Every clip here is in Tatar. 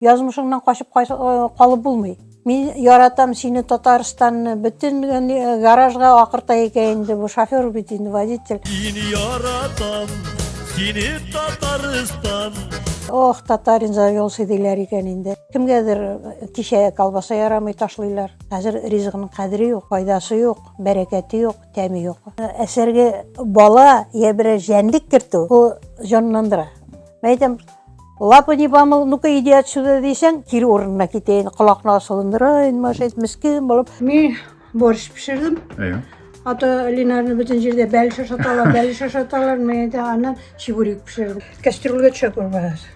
Язмышыңнан качып калып булмый. Мин яратам сине Татарстанны, бөтен гаражга акырта икән инде бу шофер бит инде водитель. Мин яратам сине Татарстан. Ох, татарин за юлсы диләр икән инде. Кемгәдер кичә колбаса ярамый ташлыйлар. Хәзер ризыгының кадере юк, файдасы юк, бәрәкәте юк, тәме юк. Әсәргә бала я берәр җәнлек кертү, бу җанландыра. Мен әйтәм, лапы не помыл, ну-ка иди отсюда дисәң, кире урынына китәйен, колакны асылындырайын, машет, мескин булып. Мин борщ пешердем. Әйе. Ата Линарны бөтен җирдә бәл шашаталар, бәл шашаталар, мен әйтәм, аннан чебурек пешердем. Кастрюльгә төшә күрмәгез.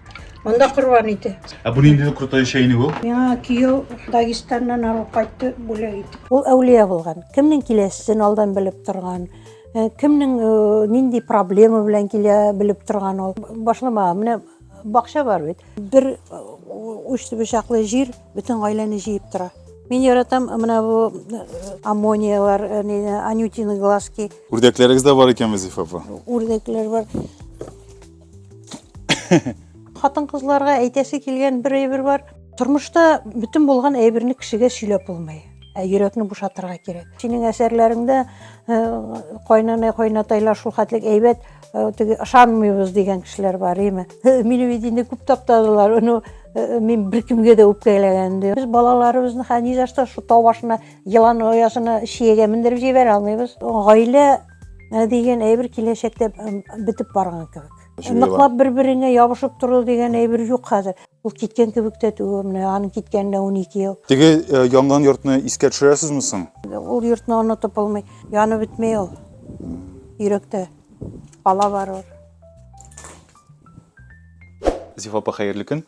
Монда корбан ите. Ә бу нинди крутой чәйник ул? Миңа кияү Дагестаннан алып кайтты, бүләк итеп. Ул әүлия булган. Кемнең киләсен алдан белеп торган. Э, кемнең э, нинди проблема белән килә белеп торган ул башлама менә бакча бар бит бер э, уч бычаклы җир бөтен гаиләне җыеп тора Мин яратам менә бу аммониялар, анютины глазки. Үрдәкләрегез дә бар икән, Вазифа апа. Үрдәкләр бар. хатын кызларга әйтәсе килгән бер әйбер бар тормышта бөтен булган әйберне кешегә сөйләп булмый ә йөрәкне бушатырга кирәк синең әсәрләреңдә э, кайнана кайнатайлар шул хәтлек әйбәт э, теге ышанмыйбыз дигән кешеләр бар име э, мине бит инде күп таптадылар ну мин беркемгә дә үпкәләгән дә без балаларыбызны хәнизашта шул тау башына елан оясына чиягә мендереп җибәрә алмыйбыз гаилә Ә дигән әйбер киләчәктә бетеп барган кебек. Ныклап бер-береңә ябышып тору дигән әйбер юк хәзер. Ул киткән кебек тә түгел, менә аның киткәненә 12 ел. Теге э, янган йортны искә төшерәсезме соң? Ул йортны онытып булмый. Яны бетмей ул. Йөрәктә бала бар ул. Зифа апа, хәерле көн.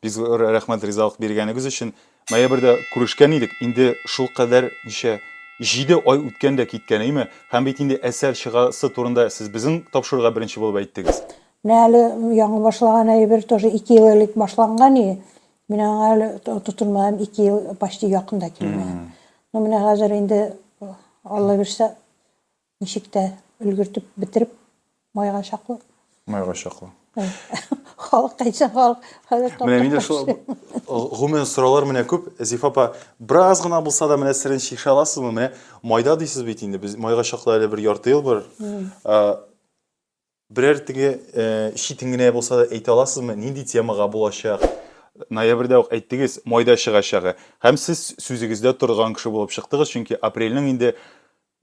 Бик зур рәхмәт ризалык биргәнегез өчен. Ноябрьдә күрешкән идек, инде шул кадәр ничә, җиде ай үткән дә киткән, әйме? Һәм бит инде әсәр чыгасы турында сез безнең тапшыруга беренче булып әйттегез. Менә әле яңы башлаган әйбер, тоже ике ел элек башланган и мин аңа әле тотынмадым, ике ел почти якын да килмәгән. Ну, менә хәзер инде, Алла бирсә, Ничек тә өлгертеп бетереп майга чаклы. Майга чаклы. Халык кайчан халык. Менә мин дә шул гомумән сораулар менә күп. Зифа апа, бераз гына булса да менә серен чишә аласызмы? Менә майда дисез бит инде. Без майга чаклы әле бер ярты ел бар. Берәр теге читен генә булса да әйтә аласызмы, нинди темага булачак? Ноябрьдә үк әйттегез, майда чыгачагы. Һәм сез сүзегездә торган кеше булып чыктыгыз, чөнки апрельнең инде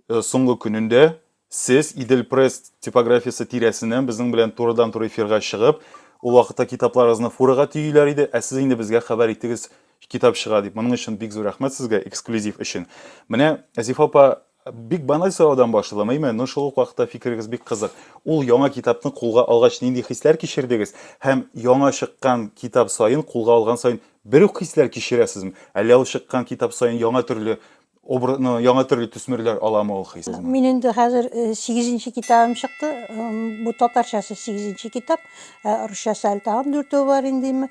соңгы көнендә сез Идел пресс типографиясе тирәсеннән безнең белән турыдан-туры эфирга чыгып, ул вакытта китапларыгызны фурага төйиләр иде, ә сез инде безгә хәбәр иттегез, китап чыга дип. Моның өчен бик зур рәхмәт сезгә эксклюзив өчен. Менә Азифа апа Бик баналь сораудан башладым, әйме, но шул ук вакытта фикерегез бик кызык. Ул яңа китапны кулга алгач нинди хисләр кичердегез? Һәм яңа чыккан китап саен, кулга алган саен бер үк хисләр кичерәсезме? Әллә ул чыккан китап саен яңа төрле обра, ну, яңа төрле төсмерләр аламы ул хис? Мин инде хәзер э, сигезенче китабым чыкты. М, Бу татарчасы сигезенче китап, ә русчасы әле тагын дүртәү бар инде. име.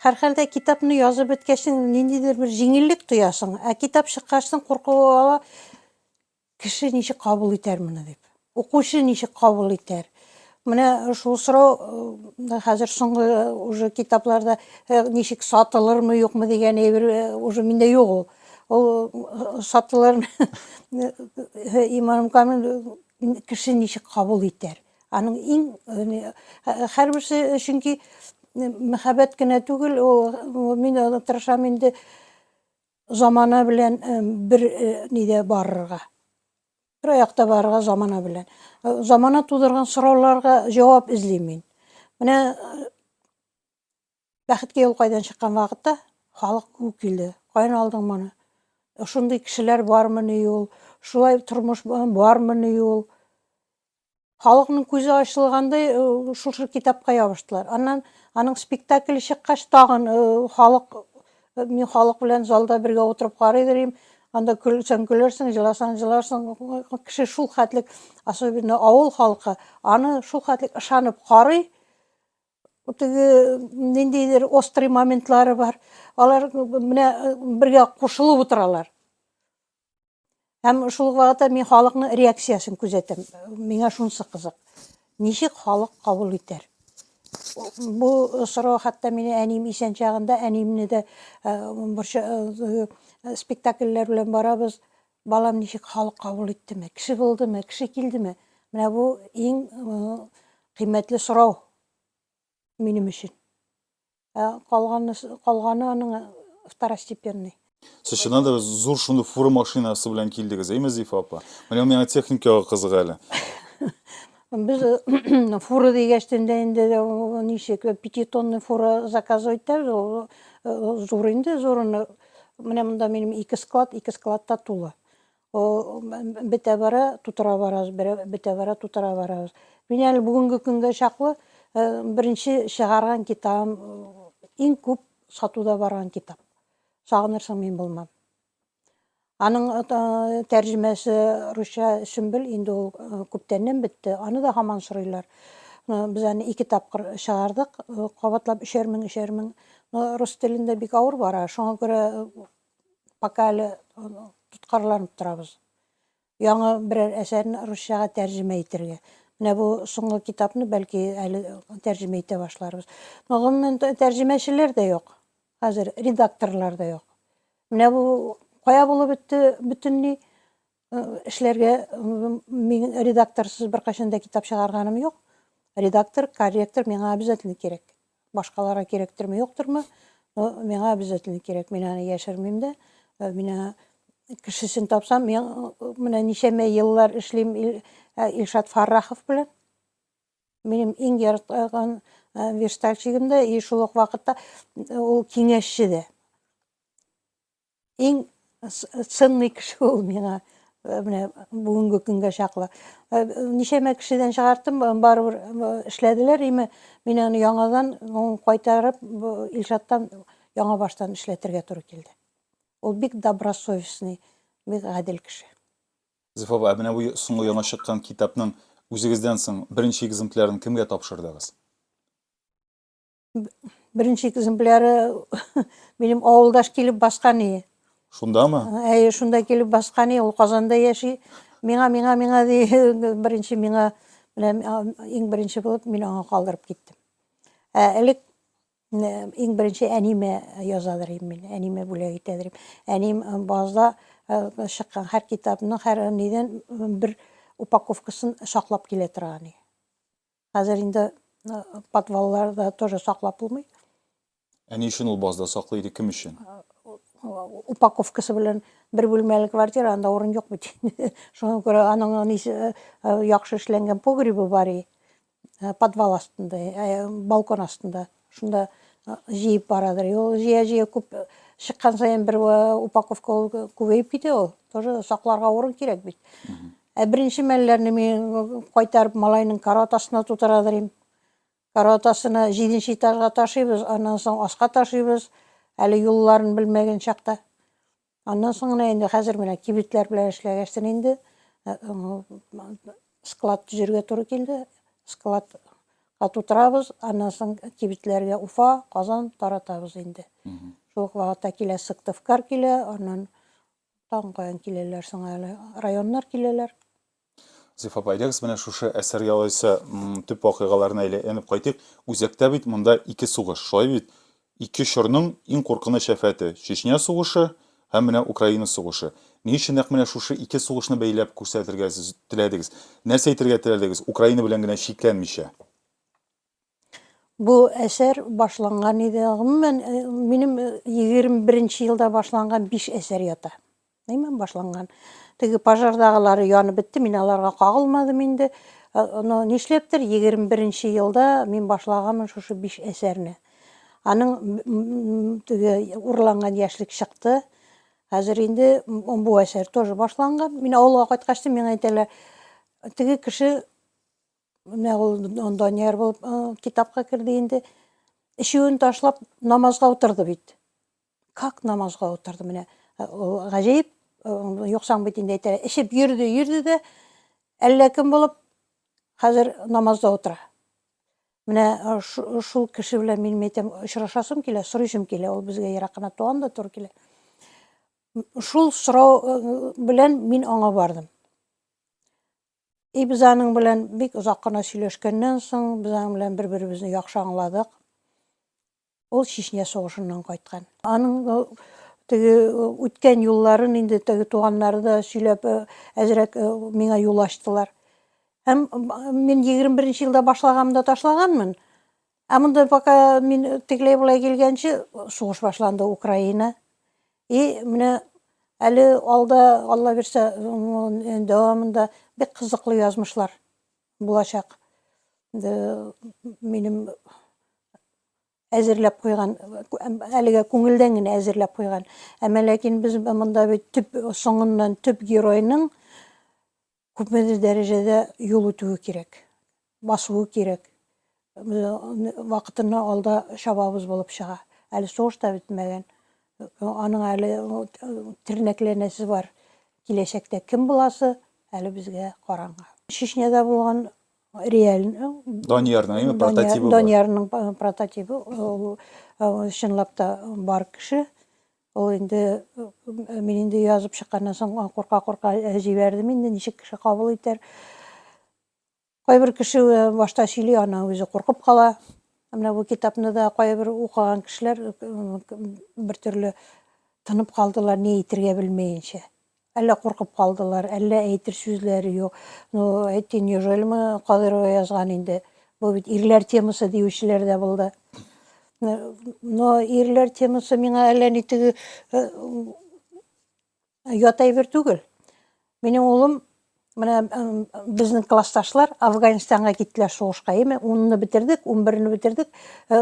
Һәрхәлдә, китапны язып беткәчтен ниндидер бер җиңеллек тоясың, ә китап чыккачтын курку ала, кеше ничек кабул итәр моны дип, укучы ничек кабул итәр. Менә шул сорау э, хәзер соңгы э, уже китапларда э, ничек сатылырмы юкмы дигән әйбер уже миндә юк ул. Ул сатылыр Иманым Камил кеше ничек кабул итәр. Аның иң хәрберсе чөнки мәхәббәт кенә түгел, ул мин тырышам инде замана белән бер нидә барырга. Бер аякта барырга замана белән. Замана тудырган сорауларга җавап эзлим мин. Менә Бәхеткә юл кайдан чыккан вакытта халык күп килде. Каян алдың моны? Шундый кешеләр бармыни ул? Шулай тормыш бармыни ул? Халыкның күзе ачылгандай э, шушы китапка ябыштылар. Аннан аның спектакле чыккач тагын э, халык э, мин халык белән залда бергә утырып карый дирим. Анда көлсәң көлерсең, җыласаң җыларсың. Кеше шул хәтлек, особенно авыл халкы, аны шул хәтлек ышанып карый. Теге ниндидер острый моментлары бар. Алар менә бергә кушылып утыралар. Һәм шул вакытта мин халыкның реакциясен күзәтәм. Миңа шунысы кызык. Ничек халык кабул итәр? Бу сорау хәтта мине әнием исән чагында, әниемне дә бер спектакльләр белән барабыз, Балам ничек халык кабул иттеме, кеше булдымы, кеше килдеме? Менә бу иң кыйммәтле сорау минем өчен. Ә калганы, калганы аның второстепенный. Сез чыннан да зур шундый фура машинасы белән килдегез, әйме, Зифа апа? Менә миңа техникага кызык әле. Без фура дигәч тендә инде ничек пятитонный фура заказывать итәбез, зур инде, зурыны Менә монда минем ике склад, ике склад та тулы. Бетә бара, тутыра барабыз, бетә бара, тутыра барабыз. Мин әле бүгенге көнгә чаклы э, беренче чыгарган китабым иң э, күп сатуда барган китап. Сагынырсың мин булмам. Аның э, тәрҗемәсе русча Сөмбел инде ул күптәннән бетте. Аны да һаман сорыйлар. Без аны ике тапкыр чыгардык, кабатлап өчәр мең, өчәр мең Ну, рус телендә бик авыр бара, шуңа күрә пока әле тоткарланып торабыз. Яңа берәр әсәрне русчага тәрҗемә итергә. Менә бу соңгы китапны бәлки әле тәрҗемә итә башларбыз. Но гомумән тәрҗемәчеләр дә юк. Хәзер редакторлар да юк. Менә бу кая булып бетте бөтенли? Эшләргә мин редакторсыз беркайчан да китап чыгарганым юк. Редактор, корректор миңа обязательно кирәк. Башкаларга кирәктерме, юктырмы? Но миңа обязательно кирәк. Мин аны яшермим дә. Мин кешесен тапсам, мин менә ничәмә еллар эшлим Илшат Фаррахов белән. Минем иң яраткан верстальщигым да, и шул ук вакытта ул киңәшче дә. Иң сынный кеше ул миңа э, менә бүгенге көнгә чаклы. Э, ничәмә кешедән чыгардым, э, барыбер эшләделәр, име мин аны яңадан кайтарып Илшаттан яңа баштан эшләтергә туры килде. Ул бик добросовестный, бик гадел кеше. Зифова, ә менә бу соңгы яңа чыккан китапның үзегездән соң беренче экземплярын кемгә тапшырдыгыз? Беренче экземпляры минем авылдаш килеп баскан ие. Шундамы? Әйе, шунда килеп баскан ие, ул Казанда яши. Миңа, миңа, миңа ди, беренче миңа, менә иң беренче булып мин аңа калдырып киттем. Ә элек иң беренче әниме язадыр идем мин, әниме бүләк итәдер идем. Әним базда чыккан һәр китапның, һәр нидән бер упаковкасын саклап килә торган ие. Хәзер инде подвалларда тоже саклап булмый. Ә ни өчен ул базда саклый иде, кем өчен? Упаковкасы белән бер бүлмәле квартира, анда урын юк бит. Шуңа күрә аның яхшы эшләнгән погребы бар и подвал астында, балкон астында. Шунда җыеп барадыр. Ул җыя-җыя күп чыккан саен бер упаковка ул күбәеп китә ул. Тоже сакларга урын кирәк бит. Ә беренче мәлләрне мин кайтарып малайның карават астына тутырадыр идем. Карават астына җиденче этажга ташыйбыз, аннан соң аска ташыйбыз. Әле юлларын белмәгән чакта. Аннан соң гына инде хәзер менә кибетләр белән эшләгәчтен инде э, склад төзергә туры килде. Склад тутырабыз, аннан соң кибетләргә Уфа, Казан таратабыз инде. Шул ук вакытта килә Сыктывкар килә, аннан тагын каян киләләр соң әле районнар киләләр. Зифа апа, әйдәгез менә шушы әсәр ялайса төп вакыйгаларына әйләнеп кайтыйк. Үзәктә бит монда ике сугыш, шулай бит? Ике чорның иң куркыныч афәте, Чечня сугышы һәм менә Украина сугышы. Ни өчен нәкъ менә шушы ике сугышны бәйләп күрсәтергә сез теләдегез? Нәрсә әйтергә теләдегез, Украина белән генә чикләнмичә? Бу әсәр башланган иде. Гомумән, э, минем 21 э, елда башланган 5 әсәр ята. Әйме, башланган. Теге пожардагылары янып бетте, мин аларга кагылмадым инде. Но э, нишләптер 21 елда мин башлаганмын шушы 5 әсәрне. Аның теге урланган яшьлек чыкты. Хәзер инде бу әсәр тоже башланган. Мин авылга кайткач, миңа әйтәләр, теге кеше Менә ул Данияр булып китапка керде инде. Ишүен ташлап намазга утырды бит. Как намазга утырды менә. Гаҗәеп юксаң бит инде әйтә. Ишеп йөрде, йөрде дә әллә кем булып хәзер намазда утыра. Менә шул кеше белән мин әйтәм, очрашасым килә, сорыйсым килә, ул безгә ерак кына туган да туры килә. Шул сорау белән мин аңа бардым. И без аның белән бик озак кына сөйләшкәннән соң, без аның белән бер-беребезне яхшы аңладык. Ул Чечня сугышыннан кайткан. Аның теге үткән юлларын инде теге туганнары да сөйләп әзрәк миңа юл ачтылар. Һәм мин 21 нче елда башлаганымда ташлаганмын. Ә монда пока мин тегеләй болай килгәнче сугыш башланды Украина. И менә әле алда Алла бирсә дәвамында бик кызыклы язмышлар булачак. Минем әзерләп куйган, әлегә күңелдән генә әзерләп куйган. Әмма ләкин без монда бит төп соңыннан төп геройның Күпмедер дәрәҗәдә юл үтүе кирәк, басуы кирәк. Без аны вакытыннан алда чабабыз булып чыга. Әле сугыш та бетмәгән. Аның әле тернәкләнәсе бар. Киләчәктә кем буласы, әле безгә караңгы. Чечняда булган реаль... Даниярның, әйме, прототибы бар. Даниярның прототибы, ул чынлап та бар кеше. Ул инде, мин инде язып чыкканнан соң, курка-курка җибәрдем инде, ничек кеше кабул итәр. Кайбер кеше башта сөйли, аннан үзе куркып кала. Менә бу китапны да кайбер укыган кешеләр бер төрле тынып калдылар, ни әйтергә белмәенчә. Әллә куркып калдылар, әллә әйтер сүзләре юк. Ну, әйтте, неужели мы Кадырова язган инде? Бу бит ирләр темасы диючеләр дә булды. Но ирләр темасы миңа әллә ни теге э, ят әйбер түгел. Минем улым Менә безнең классташлар Афганистанга киттеләр сугышка, яме 10-ны бетердек, 11-ны бетердек, э,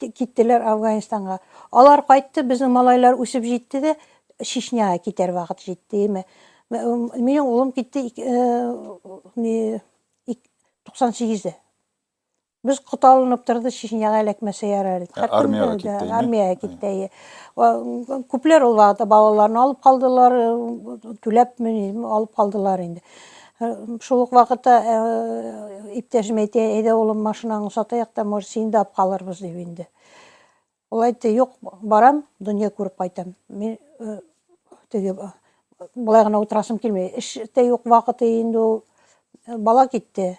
киттеләр Афганистанга. Алар кайтты, безнең малайлар үсеп җитте дә, Чечняга китәр вакыт җитте, яме. Минем улым китте 98-дә. Без коталынып торды, Чечняга эләкмәсә ярар иде. Ә, армиягә Хәтер- китте, әйе? Армиягә китте, әйе. Ва- Күпләр ул вакытта балаларын алып калдылар, э, түләпме, низме, алып калдылар инде. Э, Шул ук вакытта э, иптәшем әйтә, әйдә улым машинаңны сатыйк та, может, сине дә алып калырбыз дип инде. Ул әйтте, юк, барам, дөнья күреп кайтам. Мин э, теге э, болай гына утырасым килми. Эш тә юк вакыты инде ул. Э, Бала китте.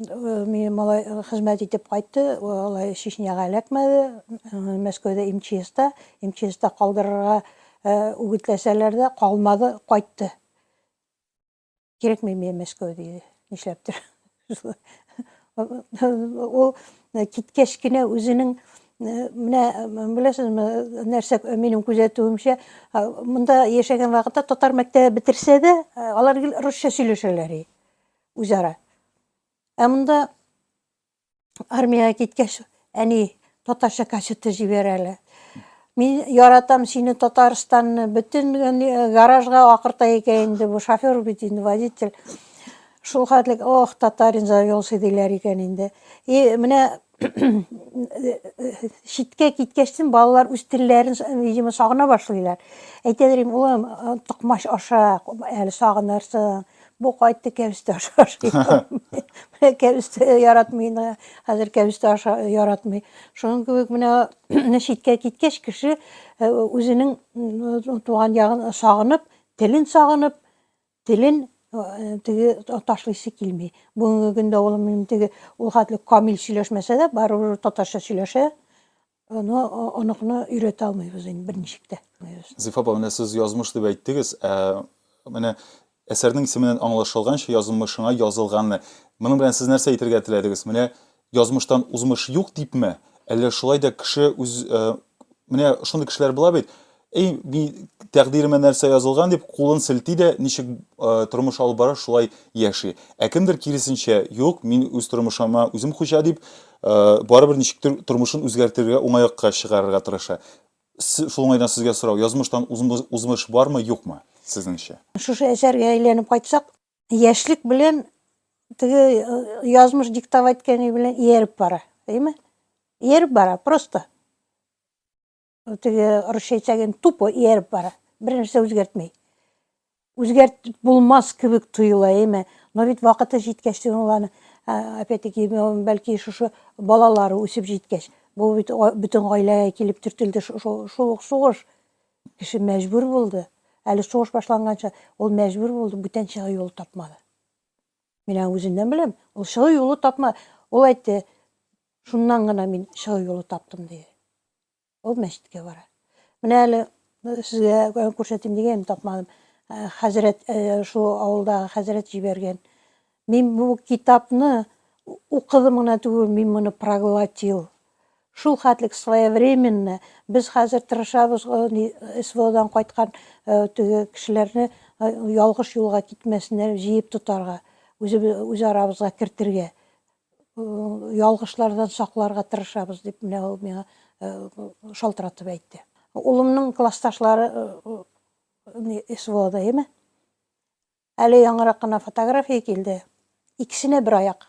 Мине малай хезмәт итеп кайтты, алай Чечняга эләкмәде. Мәскәүдә МЧСта, МЧСта калдырырга үгетләсәләр дә, калмады, кайтты. Кирәкми миңа Мәскәү диде. Нишләптер. Ул киткәч кенә үзенең менә беләсезме, нәрсә минем күзәтүемчә, монда яшәгән вакытта татар мәктәбе бетерсә дә, алар гел русча сөйләшәләр. Үзара. Ә монда армиягә киткәч, әни татарча кассета җибәрәләр. Мин яратам сине Татарстанны, бөтен э, гаражга акырта икән инде бу шофер бит инде водитель. Шул хәтлек, ох, татарин завелся диләр икән инде. И менә читкә киткәчтен балалар үз телләрен видимо сагына башлыйлар әйтәләр инде улым токмач аша әле сагынырсың бу кайтты кәбестә аша менә кәбестә яратмый инде хәзер кәбестә аша яратмый шуның кебек менә читкә киткәч кеше үзенең туган ягын сагынып телен сагынып телен теге ташлыйсы килми. Бүгенге көндә улым минем теге ул хәтле камил сөйләшмәсә дә, барыбер татарча сөйләшә. Аны оныкны өйрәтә алмыйбыз инде берничек тә. Зифа апа, менә сез язмыш дип әйттегез. Ә менә әсәрнең исеменнән аңлашылганча язмышыңа язылганны. Моның белән сез нәрсә әйтергә теләдегез? Менә Язмыштан узмыш юк дипме? Әллә шулай да кеше үз э, менә шундый кешеләр була бит. Эй, би тәкъдиремә нәрсә язылган дип кулын селти дә, ничек э, тормыш алып бара шулай яши. Ә кемдер киресенчә, юк, мин үз тормышыма үзем хуҗа дип, э, барыбер ничектер тормышын үзгәртергә, уңайлыкка чыгарырга тырыша. Се- Шул уңайдан сезгә сорау, язмыштан узмы- узмыш бармы, юкмы, сезнеңчә? Шушы әсәргә әйләнеп кайтсак, Яшьлек белән теге язмыш диктовать иткәне белән ияреп бара, әйме? Ияреп бара, просто. Теге русча әйтсәген тупо ияреп бара. Бер нәрсә үзгәртмәй. Үзгәрт булмас кебек тоела, әйме? Но бит вакыты җиткәч, уланы опять-таки бәлки шушы балалары үсеп җиткәч, бу бит бөтен гаиләгә килеп төртелде шул сугыш. Кеше мәҗбүр булды, әле сугыш башланганчы, ул мәҗбүр булды, бүтән чыгу юлы тапмады. Мин аны үзеннән беләм, ул чыгу юлы тапма, ул әйтте, шуннан гына мин чыгу юлы таптым, диде. Ул мәчеткә бара. Менә әле сезгә күрсәтим дигән, тапмадым. Хәзрәт, шул авылдагы хәзрәт җибәргән. Мин бу китапны укыдым гына түгел, мин моны проглотил. Шул хәтлек своевременно, без хәзер тырышабыз, СВОдан кайткан теге кешеләрне ялгыш юлга китмәсеннәр, җыеп тотарга, үз арабызга кертергә, ялгышлардан сакларга тырышабыз, дип менә ул миңа шалтыратып әйтте. Улымның классташлары СВОда, әйеме? Әле яңарак кына фотография килде. Икесенә бер аяк.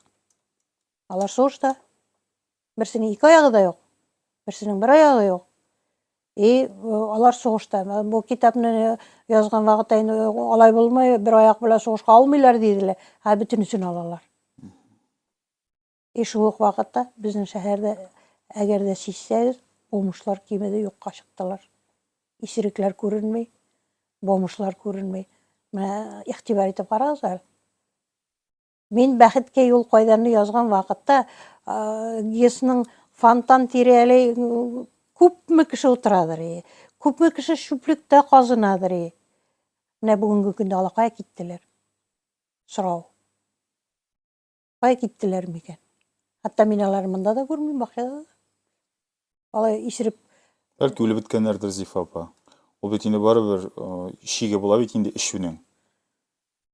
Алар сугышта. Берсенең ике аягы да юк. Берсенең бер аягы юк. И э, алар сугышта. Бу китапны э, язган вакытта инде э, алай булмый, бер аяк белән сугышка алмыйлар диделәр. Ә бөтенесен алалар. И шул ук вакытта безнең шәһәрдә, әгәр дә сизсәгез, бомжлар кимеде юкка чыктылар. Исерекләр күренми, бомжлар күренми. Менә игътибар итеп карагыз әле. Мин бәхеткә юл кайданны язган вакытта ГИСның фонтан тирәли күпме кеше утырадыр и күпме кеше чүплектә казынадыр и менә бүгенге көндә алакая киттеләр сорау Кая киттеләр микән? Хәтта мин алар монда да күрмим, бакчада да. Алай исереп. Бәлки үлеп беткәннәрдер Зифа апа. Ул бит инде барыбер шиге була бит инде эчүнең.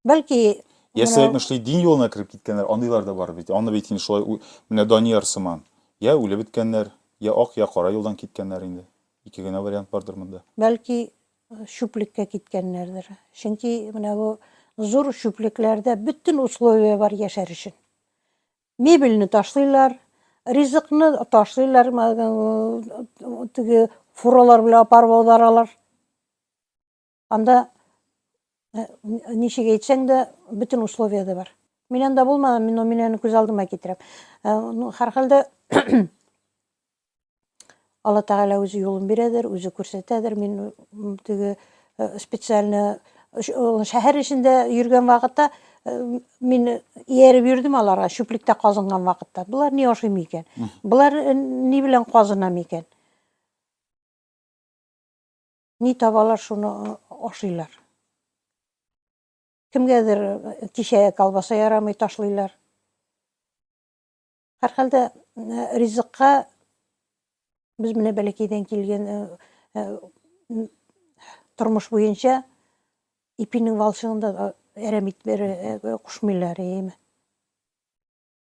Бәлки Ясә әйтмешли дин юлына кереп киткәннәр, андыйлар да бар бит. Аны бит инде шулай менә Данияр сыман. Я үлеп беткәннәр, я ак, я кара юлдан киткәннәр инде. Ике генә вариант бардыр монда. Бәлки чүплеккә киткәннәрдер. Чөнки менә бу зур чүплекләрдә бөтен условия бар яшәр өчен. Мебельне ташлыйлар, ризыкны ташлыйлар, теге фуралар белән апарып аударалар. Анда э, ничек әйтсәң дә бөтен условия да бар. Мин анда булмадым, мин мин аны күз алдыма китерәм. Э, ну, һәрхәлдә Алла Тәгалә үзе юлын бирәдер, үзе күрсәтәдер. Мин теге э, специально шәһәр эчендә йөргән вакытта э, мин ияреп йөрдем аларга, чүплектә казынган вакытта. Болар ни ашый микән? Болар э, ни белән казына микән? Ни табалар, шуны ашыйлар. Кемгәдер кичә колбаса ярамый ташлыйлар. Һәрхәлдә ризыкка без менә бәләкәйдән килгән тормыш буенча ипинең валчыгын да әрәм итмер кушмыйлар иеме.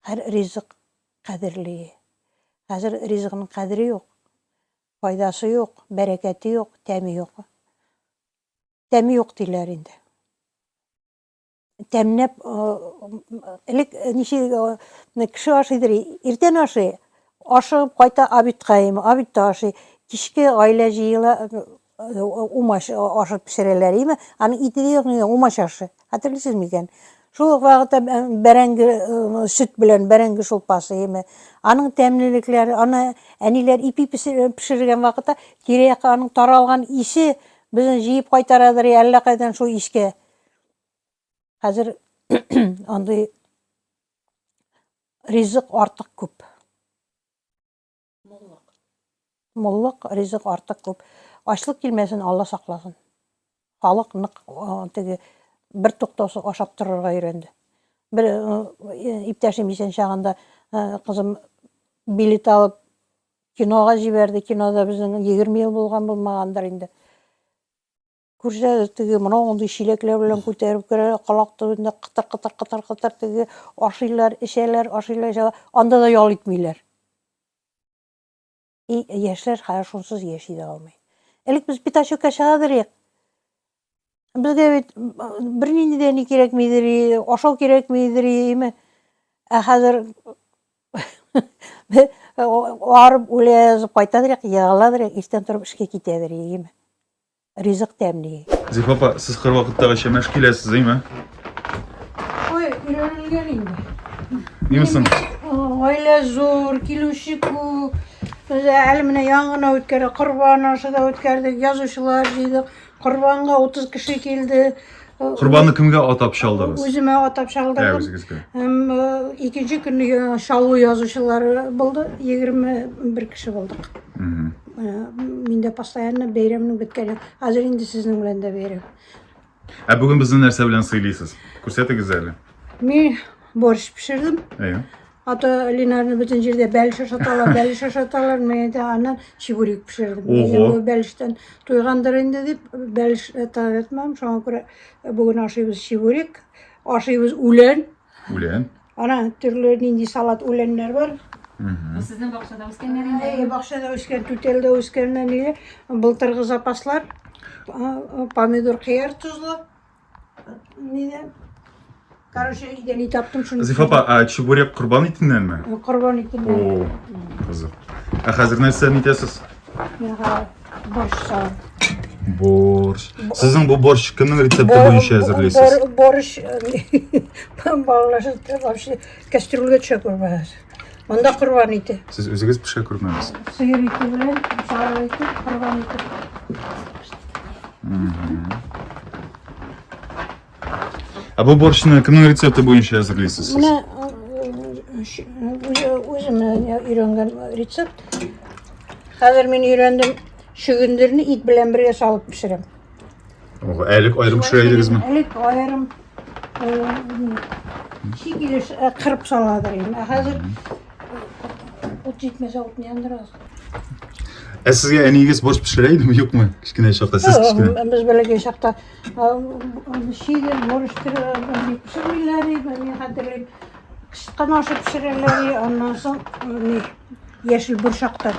Һәр ризык кадерле. Хәзер ризыкның кадере юк. Файдасы юк, бәрәкәте юк, тәме юк. Тәме юк диләр инде. тәмнәп элек ничек кеше ашыйдыр иртән ашый ашыгып кайта обедка ими обедта ашый кичке гаилә җыела умач ашып пешерәләр име аның ите дә юк умач ашы хәтерлисез микән шул ук вакытта бәрәңге сөт белән бәрәңге шулпасы име аның тәмлелекләре аны әниләр ипи пешергән вакытта тирә-якка аның таралган исе безне җыеп кайтарадыр әллә кайдан шул искә Хәзер андый ризык артык күп. Муллык. Муллык, ризык артык күп. Ачлык килмәсен, Алла сакласын. Халык нык теге бер туктаусыз ашап торырга өйрәнде. Бер иптәшем исән чагында кызым билет алып кинога җибәрде. Кинода безнең 20 ел булган булмагандыр инде. Күрсәләр теге мына мондый чиләкләр белән күтәреп керә, калак төбендә кытыр кытыр кытыр кытыр теге ашыйлар, эчәләр, ашыйлар, эчәләр. Анда да ял итмиләр. И яшьләр хәзер шунсыз яши дә алмый. Элек без пятачокка чыга идек. Безгә бит бернинди дә ни кирәкми идек, ашау кирәкми идек. Ә хәзер арып үләбез, кайта идек, егыла идек, иртән торып эшкә китә идек. ризык тәмли. Зифа апа, сез кыр вакыттагыча мәш киләсез, әйме? Ой, өйрәнелгән инде. Ниме соң? Гаилә зур, килүче күп. Без әле менә яңгына үткәрдек, корбан ашы да үткәрдек, язучылар җыйдык. Корбанга 30 кеше килде. Корбанны кемгә атап чалдыгыз? Үземә атап чалдырдым. Үзегезгә. Һәм э, икенче көнне э, шалу язучылар булды. 21 кеше булдык. Э, мин дә постоянно бәйрәмнең беткәне. Хәзер инде сезнең белән дә бәйрәм. Ә бүген безне нәрсә белән сыйлыйсыз? Күрсәтегез әле. Мин борщ пешердем. Әйе. Ата Линарны бөтен җирдә бәлеш ашаталар, бәлеш ашаталар. Мин әйтә, аннан чебурек пешердем. Ого. Әйе, бу бәлештән туйгандыр инде дип, бәлеш э, таләп итмәдем. Шуңа күрә э, бүген ашыйбыз чебурек, ашыйбыз үлән. Үлән. Ана төрле нинди салат үләннәр бар. Мгм. Сезнең бакчада үскәннәр инде. Әйе, бакчада үскән, түтәлдә үскәннәр ниләр. Былтыргы запаслар. А, а, Помидор, кыяр тозлы. Нидә? Короче, өйдә ни таптым, шуны... Зифа апа, а чебурек корбан итеннәнме? Корбан итеннән. О, кызык. Ә хәзер нәрсә итәсез? Борщ салам. Борщ. Сезнең бу борщ кемнең рецепты буенча әзерлисез? Борщ балалар вообще кастрюльгә төшә күрмәгез. Монда корбан ите. Сез үзегез пешә күрмәгез. Сыер ите белән сары ите, корбан ите. Ә бу борщны кемнең рецепты буенча әзерлисез? сез? Менә үзем өйрәнгән рецепт. Хәзер мин өйрәндем. Чөгендерне ит белән бергә салып пешерәм. Ого, әлек аерым пешерә идегезме? Әлек аерым чик килеш кырып саладыр инде. Ә хәзер ут җитмәсә утны яндырабыз. Ә сезгә әниегез борщ пешерә идеме, юкмы? Кечкенә чакта, сез кечкенә. Без бәләкәй чакта шигер, борщ пешермиләр иде, мин хәтерлим. Кычкан ашы пешерәләр, аннан соң яшел борчакта.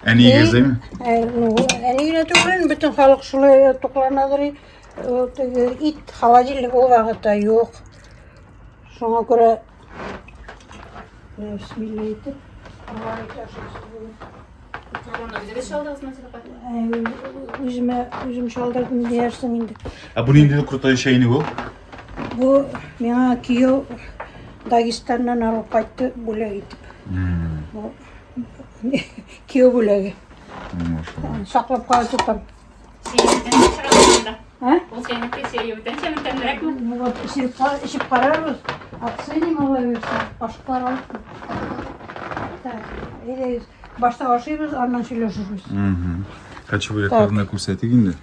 Әниегез, әйме? Ә, ну, әни генә түгел, бөтен халык шулай э, тукланадыр. и, э, теге Ит холодильник ул вакытта юк. Шуңа күрә э, бисмилла итеп, Алла итәшәсе булып. Аны үзегез чалдыгызмы, Сәләпә? Ә, Үземә үзем шалдырдым диярсең инде. Ә бу нинди крутой чәйник ул? Бу миңа кияү Дагестаннан алып кайтты бүләк итеп. Бу кияү бүләге. Саклап кала тотам. Сиңдән сораганда. А? Бу синеке сиңдән сәмтәнрәкме? Ну вот, ишеп ишеп карарбыз. Оценим алай башкалар алып. Так, или башта ашыйбыз, аннан сөйләшербез. Качыбы якларына күрсәтик инде.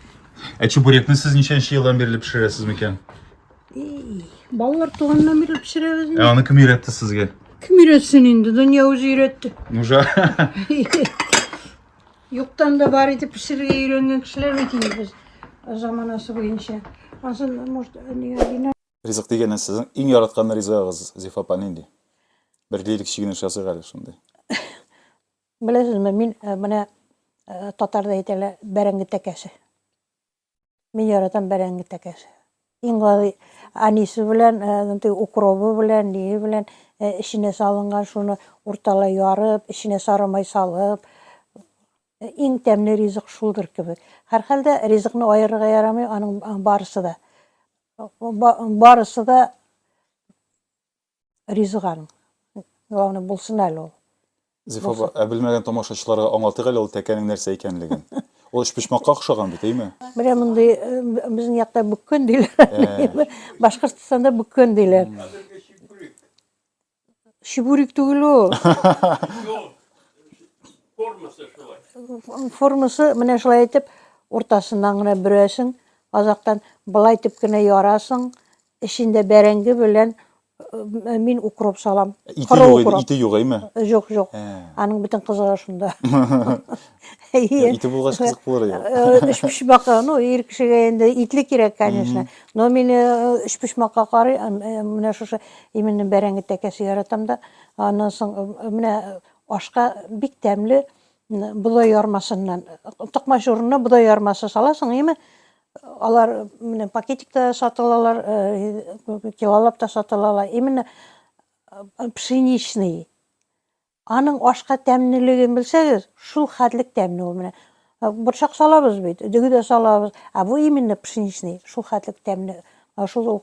Ә чебурекны сез ничәнче елдан бирле пешерәсез микән? Балалар туганнан бирле пешерәбез. Ә аны кем өйрәтте сезгә? Кем өйрәтсен инде? Дөнья үзе өйрәтте. Нужа. Юктан да бар итеп пешерергә өйрәнгән кешеләр бит инде без заманасы буенча. Азын, может, не Ризык дигәннән сезнең иң яраткан ризыгыгыз Зифа апа нинди? Бер лирик чигенеш ясыйк әле шундый. Беләсезме, мин менә татарда әйтәләр, бәрәңге тәкәсе. Мин яратам бәрәңге тәкәсе. Иң гади анисы белән, укробы белән, ние белән эченә салынган шуны урталай ярып, эченә сарымай салып, иң тәмле ризык шулдыр кебек. Һәрхәлдә ризыкны аерырга ярамый, аның барысы да. Барысы да Ризыган. Главное, булсын әле ул. Зифа апа, Булсын. ә белмәгән тамашачыларга аңлатыйк әле ул тәкәнең нәрсә икәнлеген. Ул өчпочмакка охшаган бит, әйме? Менә мондый, э, б- безнең якта бүккән диләр. Ә. Башкортстанда бүккән диләр. Чебурек түгел ул. Формасы шулай. Формасы менә шулай итеп уртасыннан гына бөрәсең, азактан былай итеп кенә ярасың, Эчендә бәрәңге белән э, мин укроп салам. Ите Коры юк, укроп. ите юк, әйме? Жок, жок. Ә. Аның бөтен кызыгы шунда. Әйе. Ите булгач кызык булыр ия. Э, Өчпочмакка, ну, ир кешегә инде итле кирәк, конечно. Но мин э, өчпочмакка карый, э, э, менә шушы именно бәрәңге тәкәсе яратам да. Аннан соң э, менә ашка бик тәмле м, бодай ярмасыннан, токмач урынына бодай ярмасы саласың, әйме? Алар менә пакетикта сатылалар, э, килолап та сатылалар. Именно э, пшеничный. Аның ашка тәмнелеген белсәгез, шул хәтлек тәмне ул менә. Э, Борчак салабыз бит, дөге дә салабыз. А бу именно пшеничный, шул хәтлек тәмне. Шул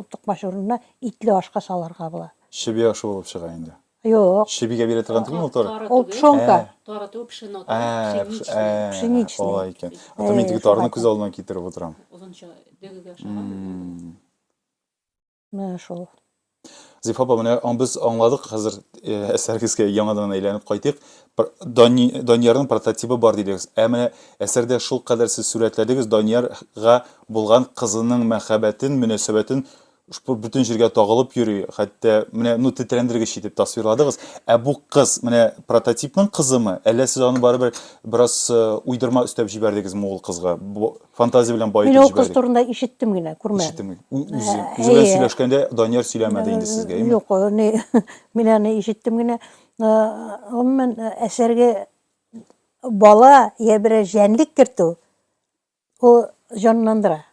тукмач урынына итле ашка саларга була. Чебия ашы булып чыга инде. Юк. Чебигә бирә торган түгел мотор. Ул пшонка. Тары түгел, пшено. Пшеничный. Алай икән. Атам инде тарны күз алдына китереп утырам. Озынча дөгегә ошаган. Менә шул. Зиф апа, менә без аңладык хәзер әсәрегезгә яңадан әйләнеп кайтыйк. Даниярның прототибы бар дидегез. Ә менә әсәрдә шул кадәр сез сүрәтләдегез Даниярга булган кызының мәхәббәтен, мөнәсәбәтен Шпорт бөтен җиргә тагылып йөри, хәтта, менә, ну, тетрәндергеч итеп тасвирладыгыз. Ә бу кыз, менә прототипның кызымы, әллә сез аны барыбер бераз э, уйдырма өстәп җибәрдегезме ул кызга? Бу фантазия белән баетып җибәрдегез. Мин ул кыз турында ишеттем генә, күрмәдем. Ишеттем. Үзе, э, үзе белән сөйләшкәндә Данияр сөйләмәде инде сезгә, әйме? Юк, не, мин аны ишеттем генә. Гомумән, әсәргә бала я берәр җәнлек кертү, ул җанландыра.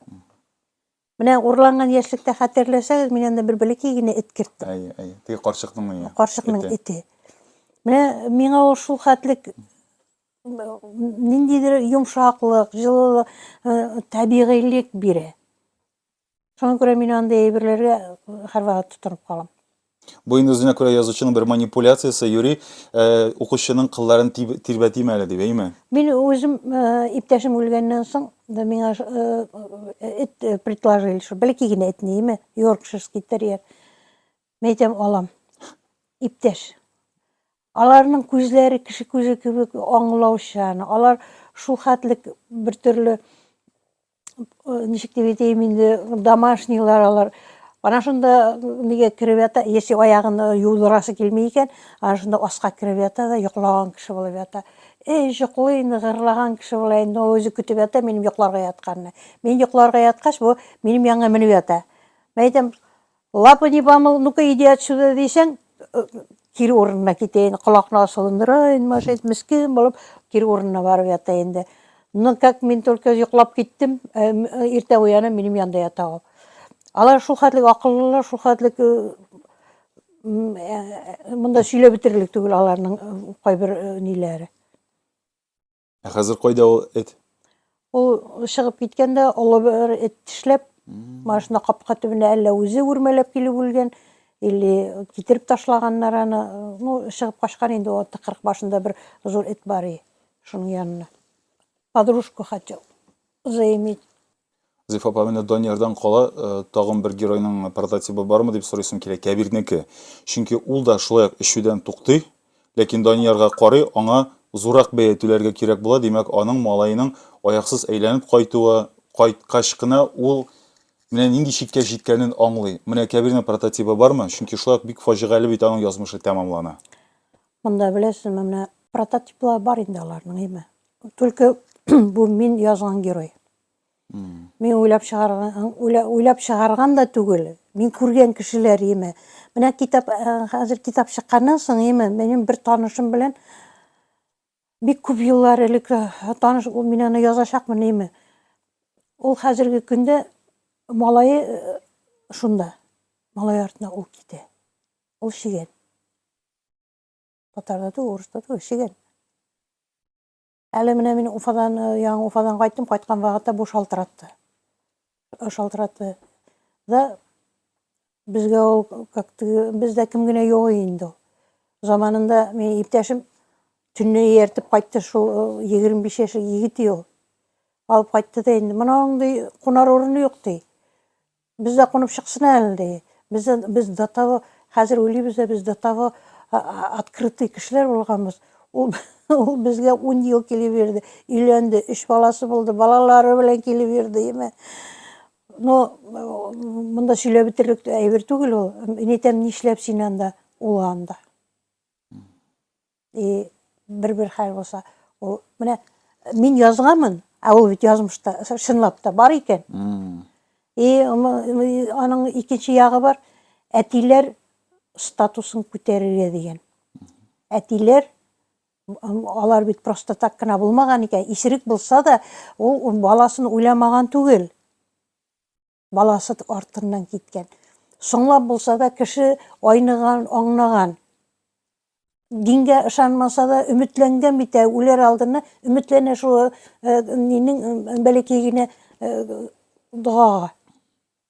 Менә урланган яшьлектә хәтерләсәгез, мин анда бер бәләкәй генә эт керттем. Әйе, әйе. Теге карчыкның ие. Карчыкның эте. эте. Менә миңа ул шул хәтлек ниндидер йомшаклык, җылылык, э, табигыйлек бирә. Шуңа күрә мин андый әйберләргә һәрвакыт тотынып калам. Бу инде үзенә күрә язучының бер манипуляциясе, юри э, укучының кылларын тиб- тирбәтим әле дип, әйме? Мин үзем э, иптәшем үлгәннән соң да миңа ш- э, э, эт э, предложили, что бәлки генә этне име, йоркширский терьер. Мин әйтәм, алам. Иптәш. Аларның күзләре кеше күзе кебек аңлаучан. Алар шул хәтлек бер төрле ничек дип әйтәйем инде домашнилар алар ана шунда неге кереп ята если аягын юылдырасы килми икән ана шунда аска кереп ята да йоклаган кеше булып ята эй йоклый ныгырлаган кеше була инде ул үзе көтеп ята минем йокларга ятканны мин йокларга яткач бу минем янга менеп ята мен әйтәм Лапы не помыл, ну-ка иди отсюда дисәң, кире урынына китә инде, колакны асылындыра инде машинист, мескин булып, кире урынына барып ята инде. Ну, как мин только йоклап киттем, иртә уянам, минем янда ята ул. Алар шул хәтлек акыллылар, шул хәтлек монда сөйләп бетерлек түгел аларның кайбер ниләре. Ә хәзер кайда ул эт? Ул чыгып киткәндә олы бер эт тешләп, машина капка төбенә әллә үзе үрмәләп килеп үлгән, или китереп ташлаганнар аны. Ну, чыгып качкан инде ул тыкрык башында бер зур эт бар и, шуның янына. Подружку хотел заиметь. Зифа апа, менә Даниярдан кала, тагын бер геройның прототибы бармы дип сорыйсым килә, Кәбирнеке. Чөнки ул да шулай ук эчүдән туктый, ләкин Даниярга карый, аңа зуррак бәя түләргә кирәк була, димәк, аның малаеның аяксыз әйләнеп кайтуы, кайткач кына ул менә нинди чиккә җиткәнен аңлый. Менә Кәбирнең прототибы бармы? Чөнки шулай ук бик фаҗигале бит аның язмышы тәмамлана. Монда, беләсезме, менә прототиплары бар инде аларның, әйме. Түлке бу мин язган герой. Мин уйлап чыгарган, уйлап чыгарган да түгел. Мин күргән кешеләр еме. Менә китап, э, хәзер китап чыкканнан соң еме, минем бер танышым белән бик күп еллар элек э, таныш, ул мин аны язачакмын еме. Ул хәзерге көндә малайы э, шунда. Малай артына ул китә. Ул шигән. Татарда да, урыста да шигән. Әле менә мин Уфадан, э, яңа Уфадан кайттым, кайткан вакытта бу шалтыратты. Э, шалтыратты. Да безгә ул как бездә кем генә юк инде ул. Заманында мин иптәшем төнне ияртеп кайтты шул 25 э, яшьлек егет ул. Алып кайтты да инде. Моның ди кунар урыны юк ди. Без дә кунып чыксын әле, ди. Без дә, без до того, хәзер уйлыйбыз да, без до того а- а- открытый кешеләр булганбыз. Ул, ул безгә ун ел килеп йөрде, өйләнде, өч баласы булды, балалары белән килеп йөрде, яме. Ну, монда сөйләп бетерлек әйбер түгел ул. Инетәм, нишләп син анда, ул анда? И бер-бер хәл булса, ул менә мин язганмын, ә ул бит язмышта чынлап та бар икән. И аның икенче ягы бар, әтиләр статусын күтәрергә дигән. Әтиләр алар бит просто так кына булмаган икән, исерек булса да, ул баласын уйламаган түгел. баласы артыннан киткән. Соңлап булса да кеше айныган, аңнаган. Дингә ышанмаса да өметләнгән бит ә үләр алдына өметләнә шул э, нинең бәләкәй генә э, догага.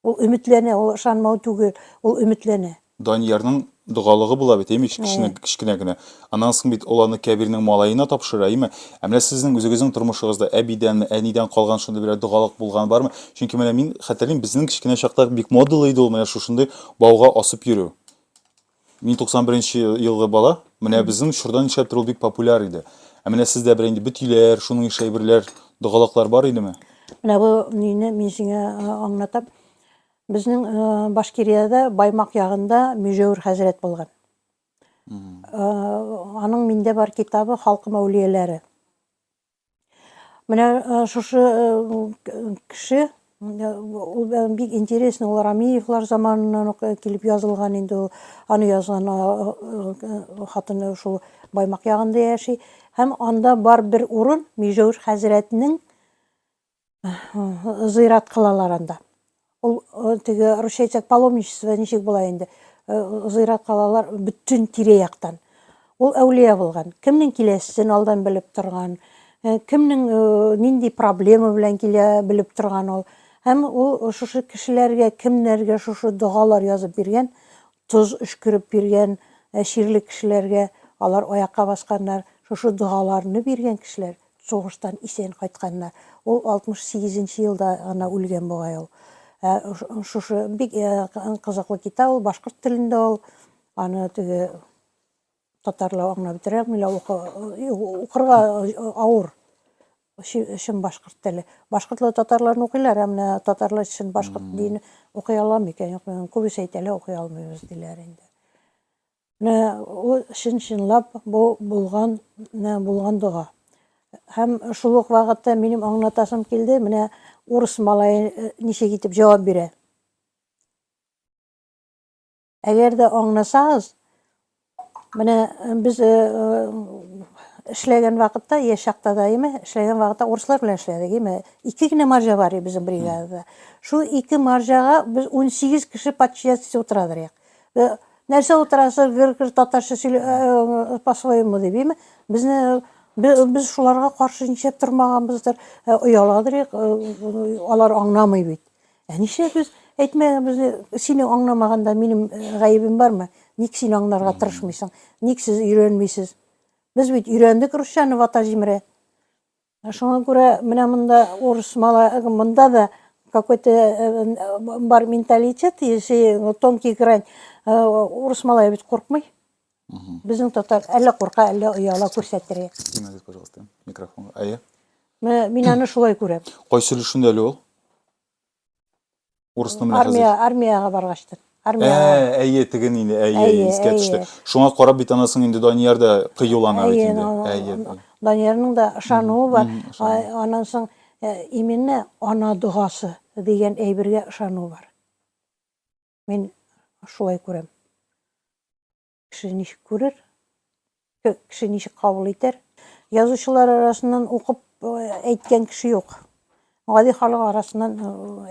Ул өметләнә, ул ышанмау түгел, ул өметләнә. Даниярның догалыгы була бит, имеш, кечкенә, кечкенә генә. Аннан соң бит ул аны Кәбирнең малаена тапшыра, име? Ә менә сезнең үзегезнең тормышыгызда әбидәнме, әнидән калган шундый берәр догалык булган бармы? Чөнки менә мин хәтерлим, безнең кечкенә чакта бик модалы иде ул менә шушындый бауга асып йөрү. Мин 91 нче елгы бала, менә безнең чорда нишләптер ул бик популяр иде. Ә менә сездә берәр инде бөтиләр, шуның ише әйберләр, догалыклар бар идеме? Менә бу нине мин сиңа аңлатам. Безнең Башкириядә Баймак ягында Мөҗәвир хәзрәт булган. Аның миндә бар китабы Халкым әүлияләре. Менә шушы кеше ул бик интересный ул Рамиевлар заманыннан ук килеп язылган инде ул аны язган хатыны шул Баймак ягында яши һәм анда бар бер урын Мижәүр хәзрәтнең Зыйрат кылалар анда. Ул теге русча әйтсәк паломничество ничек була инде? Зыйрат кылалар бөтен тирә-яктан. Ул әүлия булган. Кемнең киләсен алдан белеп торган, кемнең нинди проблема белән килә белеп торган ул. Һәм ул шушы кешеләргә, кемнәргә шушы догалар язып биргән, Тоз өшкереп биргән чирле кешеләргә, алар аякка басканнар, шушы догаларны биргән кешеләр сугыштан исән кайтканнар. Ул 68 нче елда гына үлгән бугай ул. Ә шушы бик кызыклы китап ул, башкорт телендә ул. Аны теге. Татар ла аңлап бетерәме лә укырга авыр чын башкорт теле. Башкортлы татарларны укыйлар, ә менә татарлар чын башкорт дин укый аламы икән? Юк, күбесе әйтәләр, укый алмыйбыз диләр инде. Менә ул чын чынлап бу булган, менә булган дога. Һәм шул ук вакытта минем аңлатасым килде, менә урыс малае э, ничек итеп җавап бирә. Әгәр дә аңласагыз, менә э, без э, э, эшләгән вакытта, яшь чакта да име, эшләгән вакытта урыслар белән эшләдек, име. Ике генә маржа бар иде безнең бригадада. Шул ике маржага без 18 кеше подчинятельство утырадыр як. Э, Нәрсә утырасы гыр-гыр татарча сөйле э, по-своему дип, име. Безне бе- без шуларга каршы ничек тормаганбыздыр, э, ояладыр як, э, алар аңламый бит. Ә нишләп без әйтмәгәнбезне сине аңламаганда минем гаебем бармы? Ник син аңларга тырышмыйсың? Ник сез өйрәнмисез? Без бит өйрәндек русчаны вата җимерә. Шуңа күрә менә монда урыс мала монда да какой-то бар менталитет, если тонкий грань, урыс малай бит куркмый. Безнең татар әллә курка, әллә ояла күрсәттерә. Снимайтесь, пожалуйста, микрофонга. Әйе. Менә мин аны шулай күрәм. Кайсы өлешендә әле ул? Урысны менә хәзер. Армия, армиягә баргачтыр. Ә, Армиягә. әйе, теге нинди, әйе, әйе, Әйе, искә төште. әйе. Шуңа карап бит анасының инде Данияр да кыюлана бит Әйе, инде. ана- Әйе. ана- Даниярның да ышануы бар. мгм, ышану. А- Аннан соң э, именно ана догасы дигән әйбергә ышану бар. Мин шулай күрәм. Кеше ничек күрер, кеше ничек кабул итәр. Язучылар арасыннан укып әйткән кеше юк. Гади халык арасыннан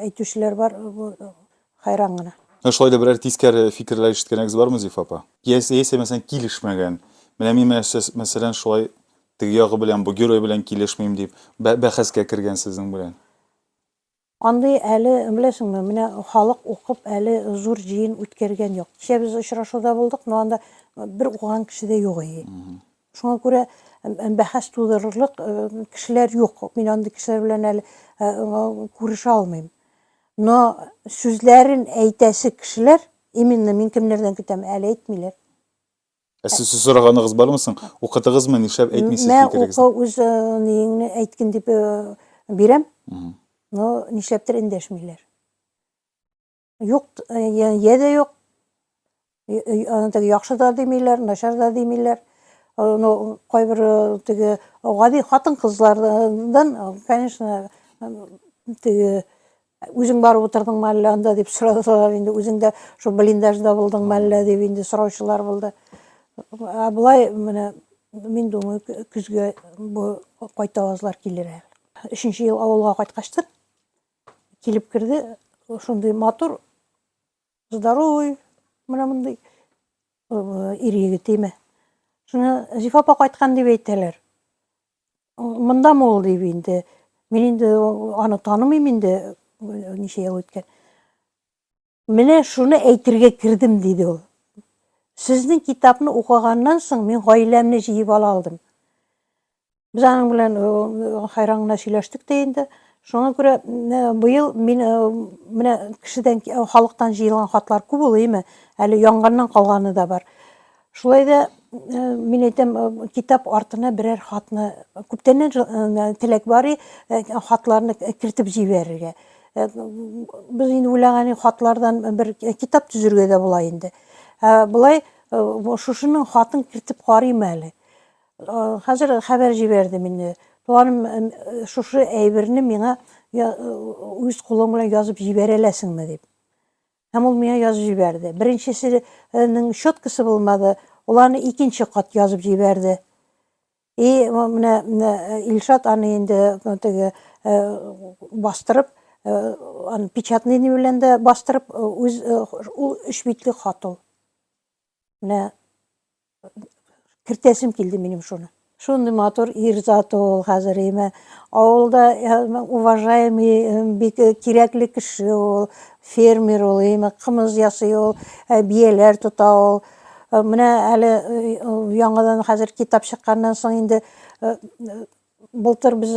әйтүчеләр бар, хайран гына. Ә шулай да берәр тискәре фикерләр ишеткәнегез бармы, Зифа апа? Яисә, яисә мәсәлән, килешмәгән. Менә мин мәсәлән шулай теге ягы белән, бу герой белән килешмим дип, бәхәскә кергән сезнең белән. Андый әле, беләсеңме, менә халык укып әле зур җыен үткәргән юк. Кичә без очрашуда булдык, но анда бер укыган кеше дә юк ие. Шуңа күрә бәхәс тудырырлык кешеләр юк. Мин андый кешеләр белән әле күрешә алмыйм. Но сүзләрен әйтәсе кешеләр, именно мин кемнәрдән көтәм, әле әйтмиләр. Ә сез сез сораганыгыз бармы соң? Укытыгызмы, нишләп әйтмисез Мә фикерегезне? укы үз э, ниеңне әйткин дип э, бирәм. Мгм. Но нишләптер эндәшмиләр. Юк, э, я- я дә юк. Э, э, аны теге яхшы да димиләр, начар да димиләр. Э, Ну, кайбер э, теге гади хатын-кызлардан, э, конечно, э, теге Үзең барып утырдыңмы әллә анда дип сорадылар инде. Үзең дә шул блиндажда булдыңмы әллә дип инде сораучылар булды. Ә болай менә мин думаю, көзгә бу кайтавазлар килер әле. Өченче ел авылга кайткачтын килеп керде, шундый матур, здоровый, менә мондый ир егетеме. Шуны Зифа апа кайткан дип әйтәләр. Мондамы ул дип инде. Мин инде аны танымыйм инде, ничә ел үткән. Менә шуны әйтергә кердем, диде ул. Сезнең китапны укыганнан соң мин гаиләмне җыеп ала алдым. Без аның белән хайран гына сөйләштек тә инде. Шуңа күрә быел мин менә кешедән халыктан җыелган хатлар күп ул, әйме? Әле яңганнан калганы да бар. Шулай да мин әйтәм, китап артына берәр хатны, күптәннән теләк бар и, хатларны кертеп җибәрергә. Без инде уйлаган хатлардан бер китап төзергә дә була инде. Болай шушының хатын кертеп карыйм әле. Хәзер хәбәр җибәрдем инде. Туганым, шушы әйберне миңа үз кулың белән язып җибәрәләсеңме дип. Һәм ул миңа язып җибәрде. Беренчесенең щеткасы булмады, ул аны икенче кат язып җибәрде. И менә Илшат аны инде теге бастырып, аны печатный белән дә бастырып, үз ул өч битлек хат ул. Менә кертәсем килде минем шуны. Шундый матур ир заты ул хәзер имә. Авылда уважаемый бик кирәкле кеше ул, фермер ул имә, кымыз ясый ул, бияләр тота ул. Менә әле яңадан хәзер китап чыкканнан соң инде Былтыр без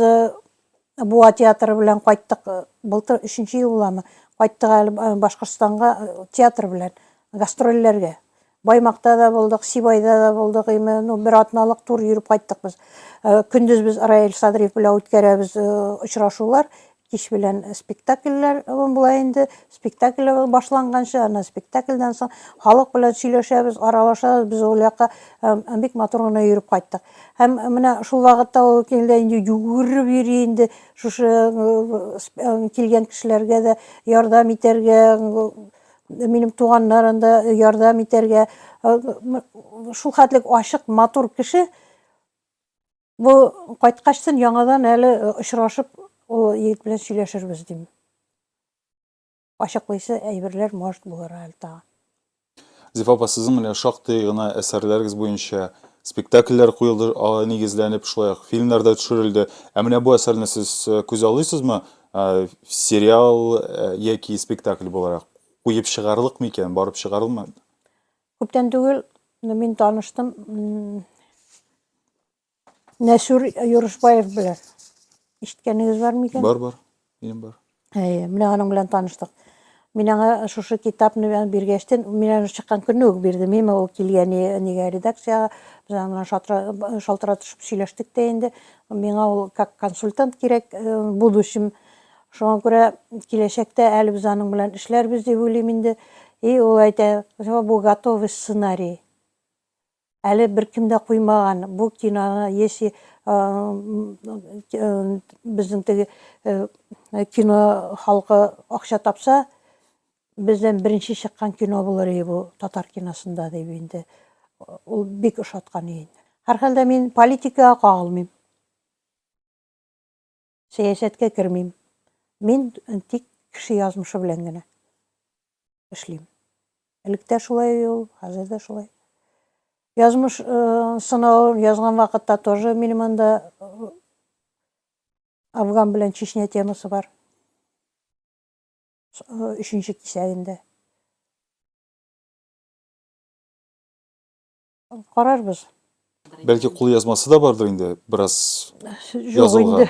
Буа театры белән кайттык. Былтыр өченче ел буламы? Кайттык әле Башкортстанга театр белән гастрольләргә. Баймакта да булдык, Сибайда да булдык. Име, ну, бер атналык тур йөреп кайттык без. Көндез без Раил Садриев белән үткәрәбез очрашулар. Кич белән спектакльләр була инде. Спектакль башланганчы, аны спектакльдән соң халык белән сөйләшәбез, аралашабыз. Без ул якка бик матур гына йөреп кайттык. Һәм менә шул вакытта ул килде инде югереп йөри инде. Шушы килгән кешеләргә дә ярдәм итәргә, минем туганнарым да ярдәм итәргә. Шул хәтлек ачык, матур кеше. Бу кайткачтын яңадан әле э, очрашып, ул егет белән сөйләшербез дим. Ачыклыйсы әйберләр может булыр әле тагын. Зифа апа, сезнең менә шактый гына әсәрләрегез буенча спектакльләр куелды, аңа нигезләнеп, шулай ук фильмнар да төшерелде. Ә менә бу әсәрне сез э, күз алыйсызмы? Э, Сериал э, яки спектакль буларак куеп чыгарлык микән, барып чыгарылмы? Күптән түгел мин таныштым Нәсүр Юрышбаев белән. Ишеткәнегез бар микән? Бар, бар. Минем бар. Әйе, менә аның белән таныштык. Мин аңа шушы китапны биргәчтен, мин аны чыккан көнне үк бирдем. Мин ул килгән нигә редакцияга, без аңа шалтыратышып сөйләштек тә инде. Миңа ул как консультант кирәк э, будущем Шуңа күрә киләчәктә әле без аның белән эшләрбез дип уйлыйм инде. И ул әйтә, бу готовый сценарий. Әле беркем дә куймаган. Бу киноны если безнең теге кино халкы акча тапса, бездән беренче чыккан кино булыр и бу татар киносында дип инде. Ул бик ошаткан и. Һәрхәлдә мин политикага кагылмыйм. Сәясәткә кермим. Мин тик кеше язмышы белән генә эшлим. Элек тә шулай ул, хәзер дә шулай. Язмыш э, сынавын язган вакытта тоже минем анда э, Афган белән Чечня темасы бар. Э, өченче кисәгендә. Карарбыз. Бәлки кул язмасы да бардыр инде, бераз язылган.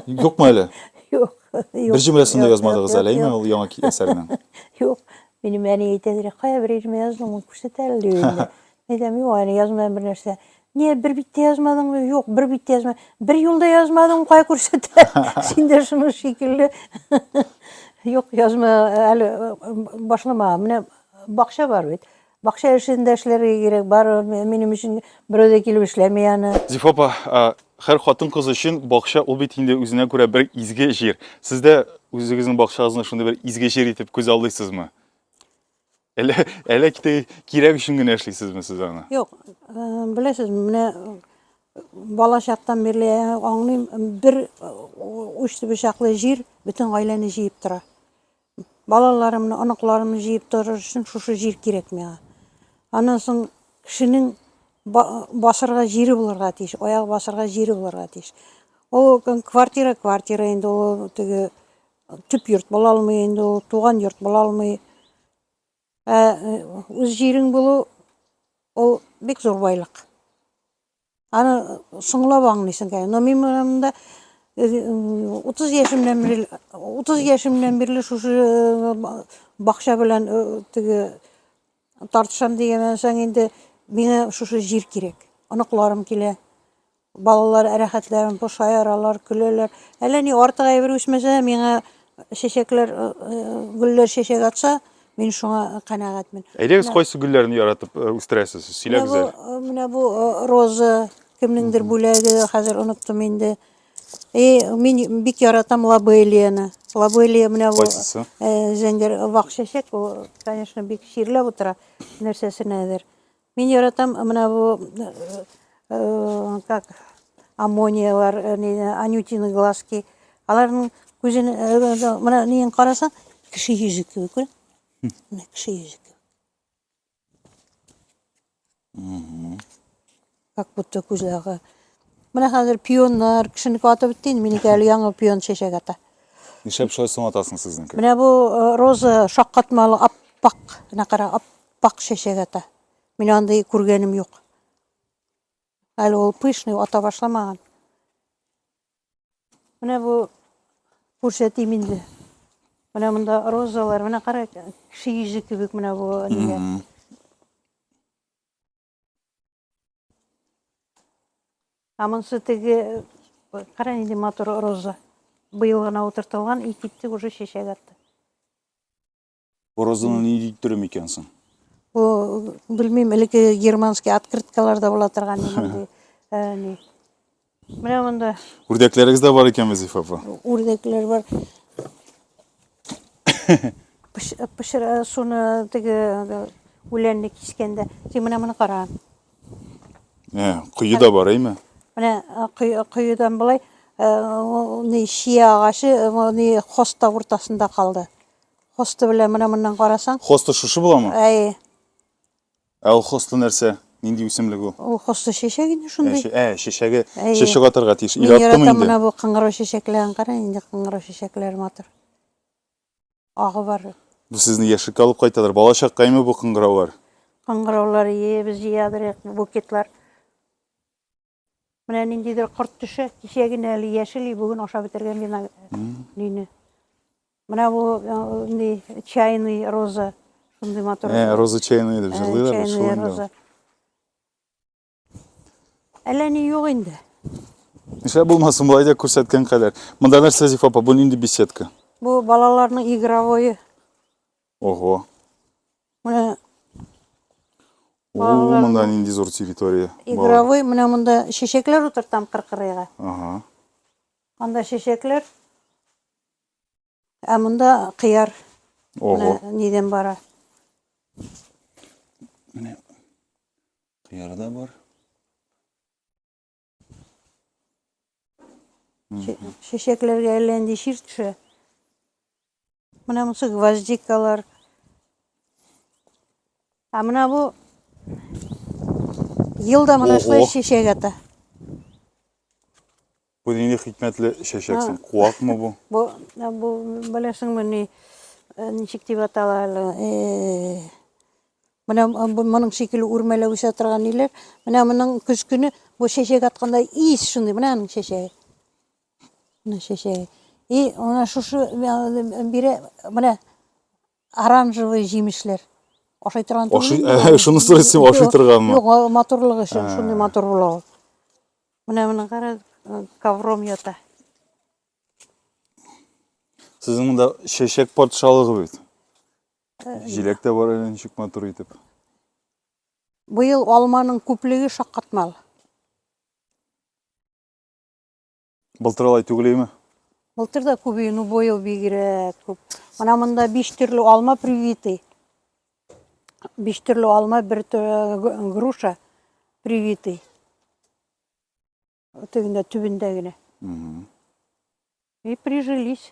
Юкмы әле? Юк. Бер җөмләсен дә язмадыгыз әле, әйме, ул яңа әсәрнең? Юк. Минем әни әйтәдер, кая бер җөмлә яздың, мин күрсәтә әле дип инде. Әйтәм, юк, әле язмадым бер нәрсә. Не, бер биттә язмадыңмы? Юк, бер биттә язма. Бер юлда язмадың, кая күрсәтә? Син дә шуның шикелле. Юк, язма әле башламаган. Менә бакча бар бит. Бакча эшен дә эшләргә кирәк, бар минем өчен берәү дә килеп эшләми аны. Зифа апа, хәр хатын кыз өчен бакча ул бит инде үзенә күрә бер изге җир. Сез дә үзегезнең бакчагызны шундый бер изге җир итеп күз алдыйсызмы? Әле әле китә кирәк өчен генә эшлисезме сез аны? Юк, беләсез, менә бала чактан бирле аңлыйм, бер уч төбе чаклы җир бөтен гаиләне җыеп тора. Балаларымны, оныкларымны җыеп торыр өчен шушы җир кирәк миңа. Аннан соң кешенең басырга җире булырга тиеш, аяк басырга җире булырга тиеш. Ул квартира, квартира инде ул теге төп йорт була алмый инде ул, туган йорт була алмый. Ә үз җирең булу ул бик зур байлык. Аны соңлап аңлыйсың, конечно. Но мин монда 30 яшемнән бирле 30 яшемнән бирле шушы э, бакча белән э, теге тартышам дигәннән соң инде миңа шушы җир кирәк. Оныкларым килә. Балалар рәхәтләрен пошаяралар, көләләр. Әллә ни артык әйбер үсмәсә, миңа чәчәкләр, э, гөлләр чәчәк атса, Мин шуңа канәгатьмен. Әйдәгез, кайсы гөлләрне яратып э, үстерәсез? Сөйләгез әле. Э, менә бу э, роза, кемнеңдер бүләге, хәзер оныттым инде. И мин бик яратам лабелияны. Лабелия менә бу Кайсысы? зәңгәр вак чәчәк, ул, конечно, бик чирләп утыра нәрсәсенәдер. Мин яратам менә бу как аммониялар, анютины глазки. Аларның күзен менә неен карасаң, кеше йөзе кебек, күр. Менә кеше йөзе кебек. Как будто күзләре. Менә хәзер пионнар, кешене атып бетте инде, минеке әле яңа пион чәчәк ата. Нишләп шулай соң атасың сезнеке? Менә бу роза шаккатмалы аппак, менә кара, Пакь чәчәк ата. Мин андый күргәнем юк. Әле ул пышный ата башламаган. Менә бу күрсәтим инде. Менә монда розалар, менә кара кеше йөзе кебек менә бу нигә. А монсы теге кара нинди матур роза. Быел гына утыртылган и китте уже чәчәк атты. Боразына ни диттер микән соң? Бу белмим, элекке германский открыткаларда була торган мондый. Э, ни. Менә монда. Үрдәкләрегез дә бар икән Вазифа апа. Үрдәкләр бар. Пешерә э, суны теге э, үләнне кискәндә. Син менә моны кара. Ә, кое да бар, әйме? Менә коедан болай, Э, не шия агачы э, не хоста уртасында калды Хосты белән менә моннан карасаң. Хосты шушы буламы? Әйе. Ә ул хосты нәрсә? Нинди үсемлек ул? Ул хосты чәчәк инде шундый. Ә, чәчәге чәчәк атырга тиеш. Ил аттымы инде? Мин яратам менә бу кыңгырау чәчәкләрен кара, инде кыңгырау чәчәкләре матур. Агы бар. Бу сезне яшьлеккә алып кайтадыр. Бала чаккаймы бу кыңгыраулар? Кыңгыраулар, ие, без җыядыр букетлар. Менә ниндидер корт төшә, кичә генә әле яшел, бүген ашап бетергән бина лине. Менә бу инде чайный роза, шундый матур. Ә, роза чайный дип җырлыйлар бит шул инде. Әллә ни юк инде. Нишлә булмасын, болай да күрсәткән кадәр. Монда нәрсә Зифа апа, бу нинди беседка? Бу балаларның игровое. Ого. Менә Балалар. О, монда нинди зур территория. Игровой, менә монда чәчәкләр утыртам кыркырыйга. Ага. Анда чәчәкләр. Ә монда кыяр. Ого. Нидән бара? Менә кыяр да бар. Чәчәкләргә әллә нинди чир төшә. Менә монысы гвоздикалар. А менә бу елда менә шулай чәчәк ата. Бу нинди хикмәтле чәчәксең? Куакмы бу? Бу бу беләсеңме ни э, ничек дип атала әле? Э, Менә моның шикелле үрмәләп үсә торган ниләр. Менә моның көз көне бу чәчәк атканда ис шундый. Менә аның чәчәге. Менә чәчәге. И ана шушы бире менә оранжевый җимешләр. Ашый торган түгел. Ашый, шуны сорыйсың, ашый торганмы? Юк, матурлыгы өчен шундый матур була ул. Менә моны кара, ковром ята. Сезнең монда чәчәк патшалыгы бит. Җиләк тә бар әле ничек матур итеп. Быел алманың күплеге шаккатмал. Былтыр алай түгелме? Былтыр да күп ну быел бигрәк күп. Ана монда биш төрле алма привитый. Биш төрле алма, бер груша привитый. Тегендә түбендә генә. И прижились.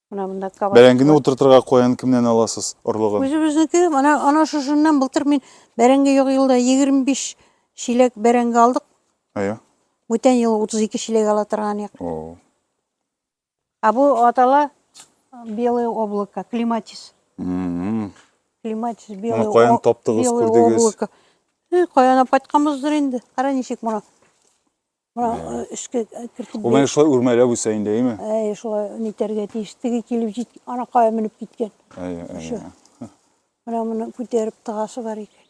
Менә монда кабак. Бәрәңгене утыртырга каян кемнән аласыз орлыгын? Үзебезнеке. Менә ана шушыннан былтыр мин бәрәңге юк елда 25 чиләк бәрәңге алдык. Әйе. Бүтән ел 32 чиләк ала торган ек. О. А бу атала белое облако, климатис. Мм. Климатис белое. Моны каян таптыгыз, күрдегез? Каян апатканбыздыр инде. Кара ничек моны. Мына өскә кертеп. Ул менә шулай үрмәләп үсә инде, әйме? Әй, шулай нитәргә тиеш. Теге килеп җит, анакая менеп киткән. Әй, әй. Менә моны күтәреп тыгасы бар икән.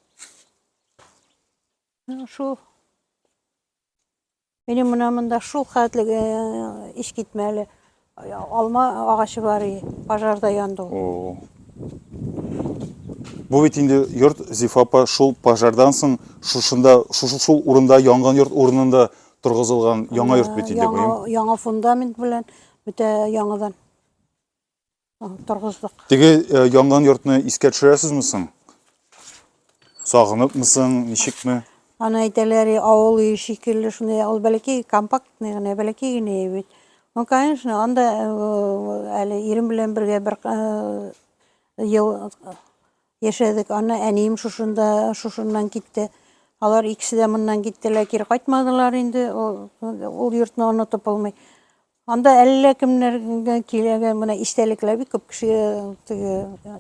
Ну, шул. Минем менә монда шул хәтле иш китмәле. Алма агачы бар и, пожарда янды ул. О-о. Бу бит инде йорт Зифа апа шул пожардан соң шушында, шушы шул урында янган йорт урынында торгызылган яңа йорт бит инде бу. Яңа, яңа фундамент белән бөтә яңадан торгыздык. Теге янган йортны искә төшерәсезме соң? Сагыныпмы соң, ничекме? Аны әйтәләр, и, авыл өе шикелле, шундый ул бәләкәй компактный генә, бәләкәй генә өй бит. Ну, конечно, анда э, әле ирем белән бергә бер э, ел яшәдек. Аны әнием шушында, шушыннан китте. Алар икесе дә моннан киттеләр, кире кайтмадылар инде. Ул, ул йортны онытып булмый. Анда әллә кемнәргә киләгән менә истәлекләр бик күп кеше теге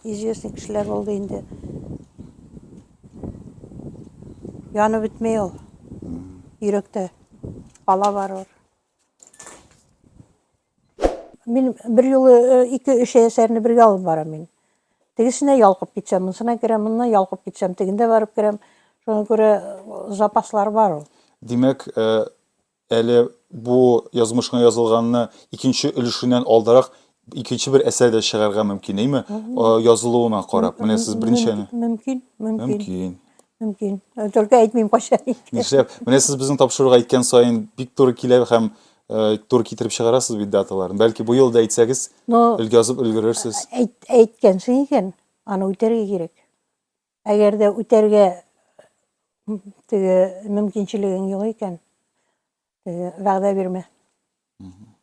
известный кешеләр булды инде. Яны бетмей ул. Йөрәктә бала бар ул. Мин бер юлы э, ике-өч әсәрне бергә алып барам мин. Тегесенә ялкып китсәм, монысына керәм, монына ялкып китсәм, тегендә барып керәм. Шуңа күрә э, запаслар бар ул. Димәк, э, Әле бу язмышның язылганны икенче өлешеннән алдарак икенче бер әсәр дә чыгарга мөмкин, әйме? Язылуына карап. Менә сез беренче Мөмкин, мөмкин. Мөмкин. Мөмкин. Только әйтмим кайчан. Нишләп? Менә сез безнең тапшыруга әйткән саен бик туры килә һәм Э, тур китереп чыгарасыз бит даталарын. Бәлки бу елда әйтсәгез, өлгә язып өлгерерсез. Әйт, әйткәнсең икән, аны үтәргә кирәк. Әгәр дә үтәргә теге мөмкинчелегең юк икән, теге вәгъдә бирмә.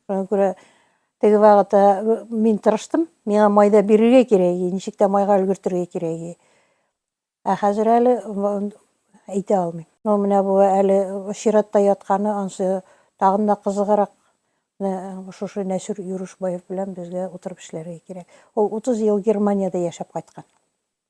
Шуңа күрә теге вакытта мин тырыштым, миңа майда бирергә кирәк, ничек тә майга өлгертергә кирәк. Ә хәзер әле әйтә алмыйм. Ну, менә бу әле чиратта ятканы, ансы тагын да кызыграк. Шушы Нәсүр Юрушбаев белән безгә утырып эшләргә кирәк. Ул 30 ел Германиядә яшәп кайткан.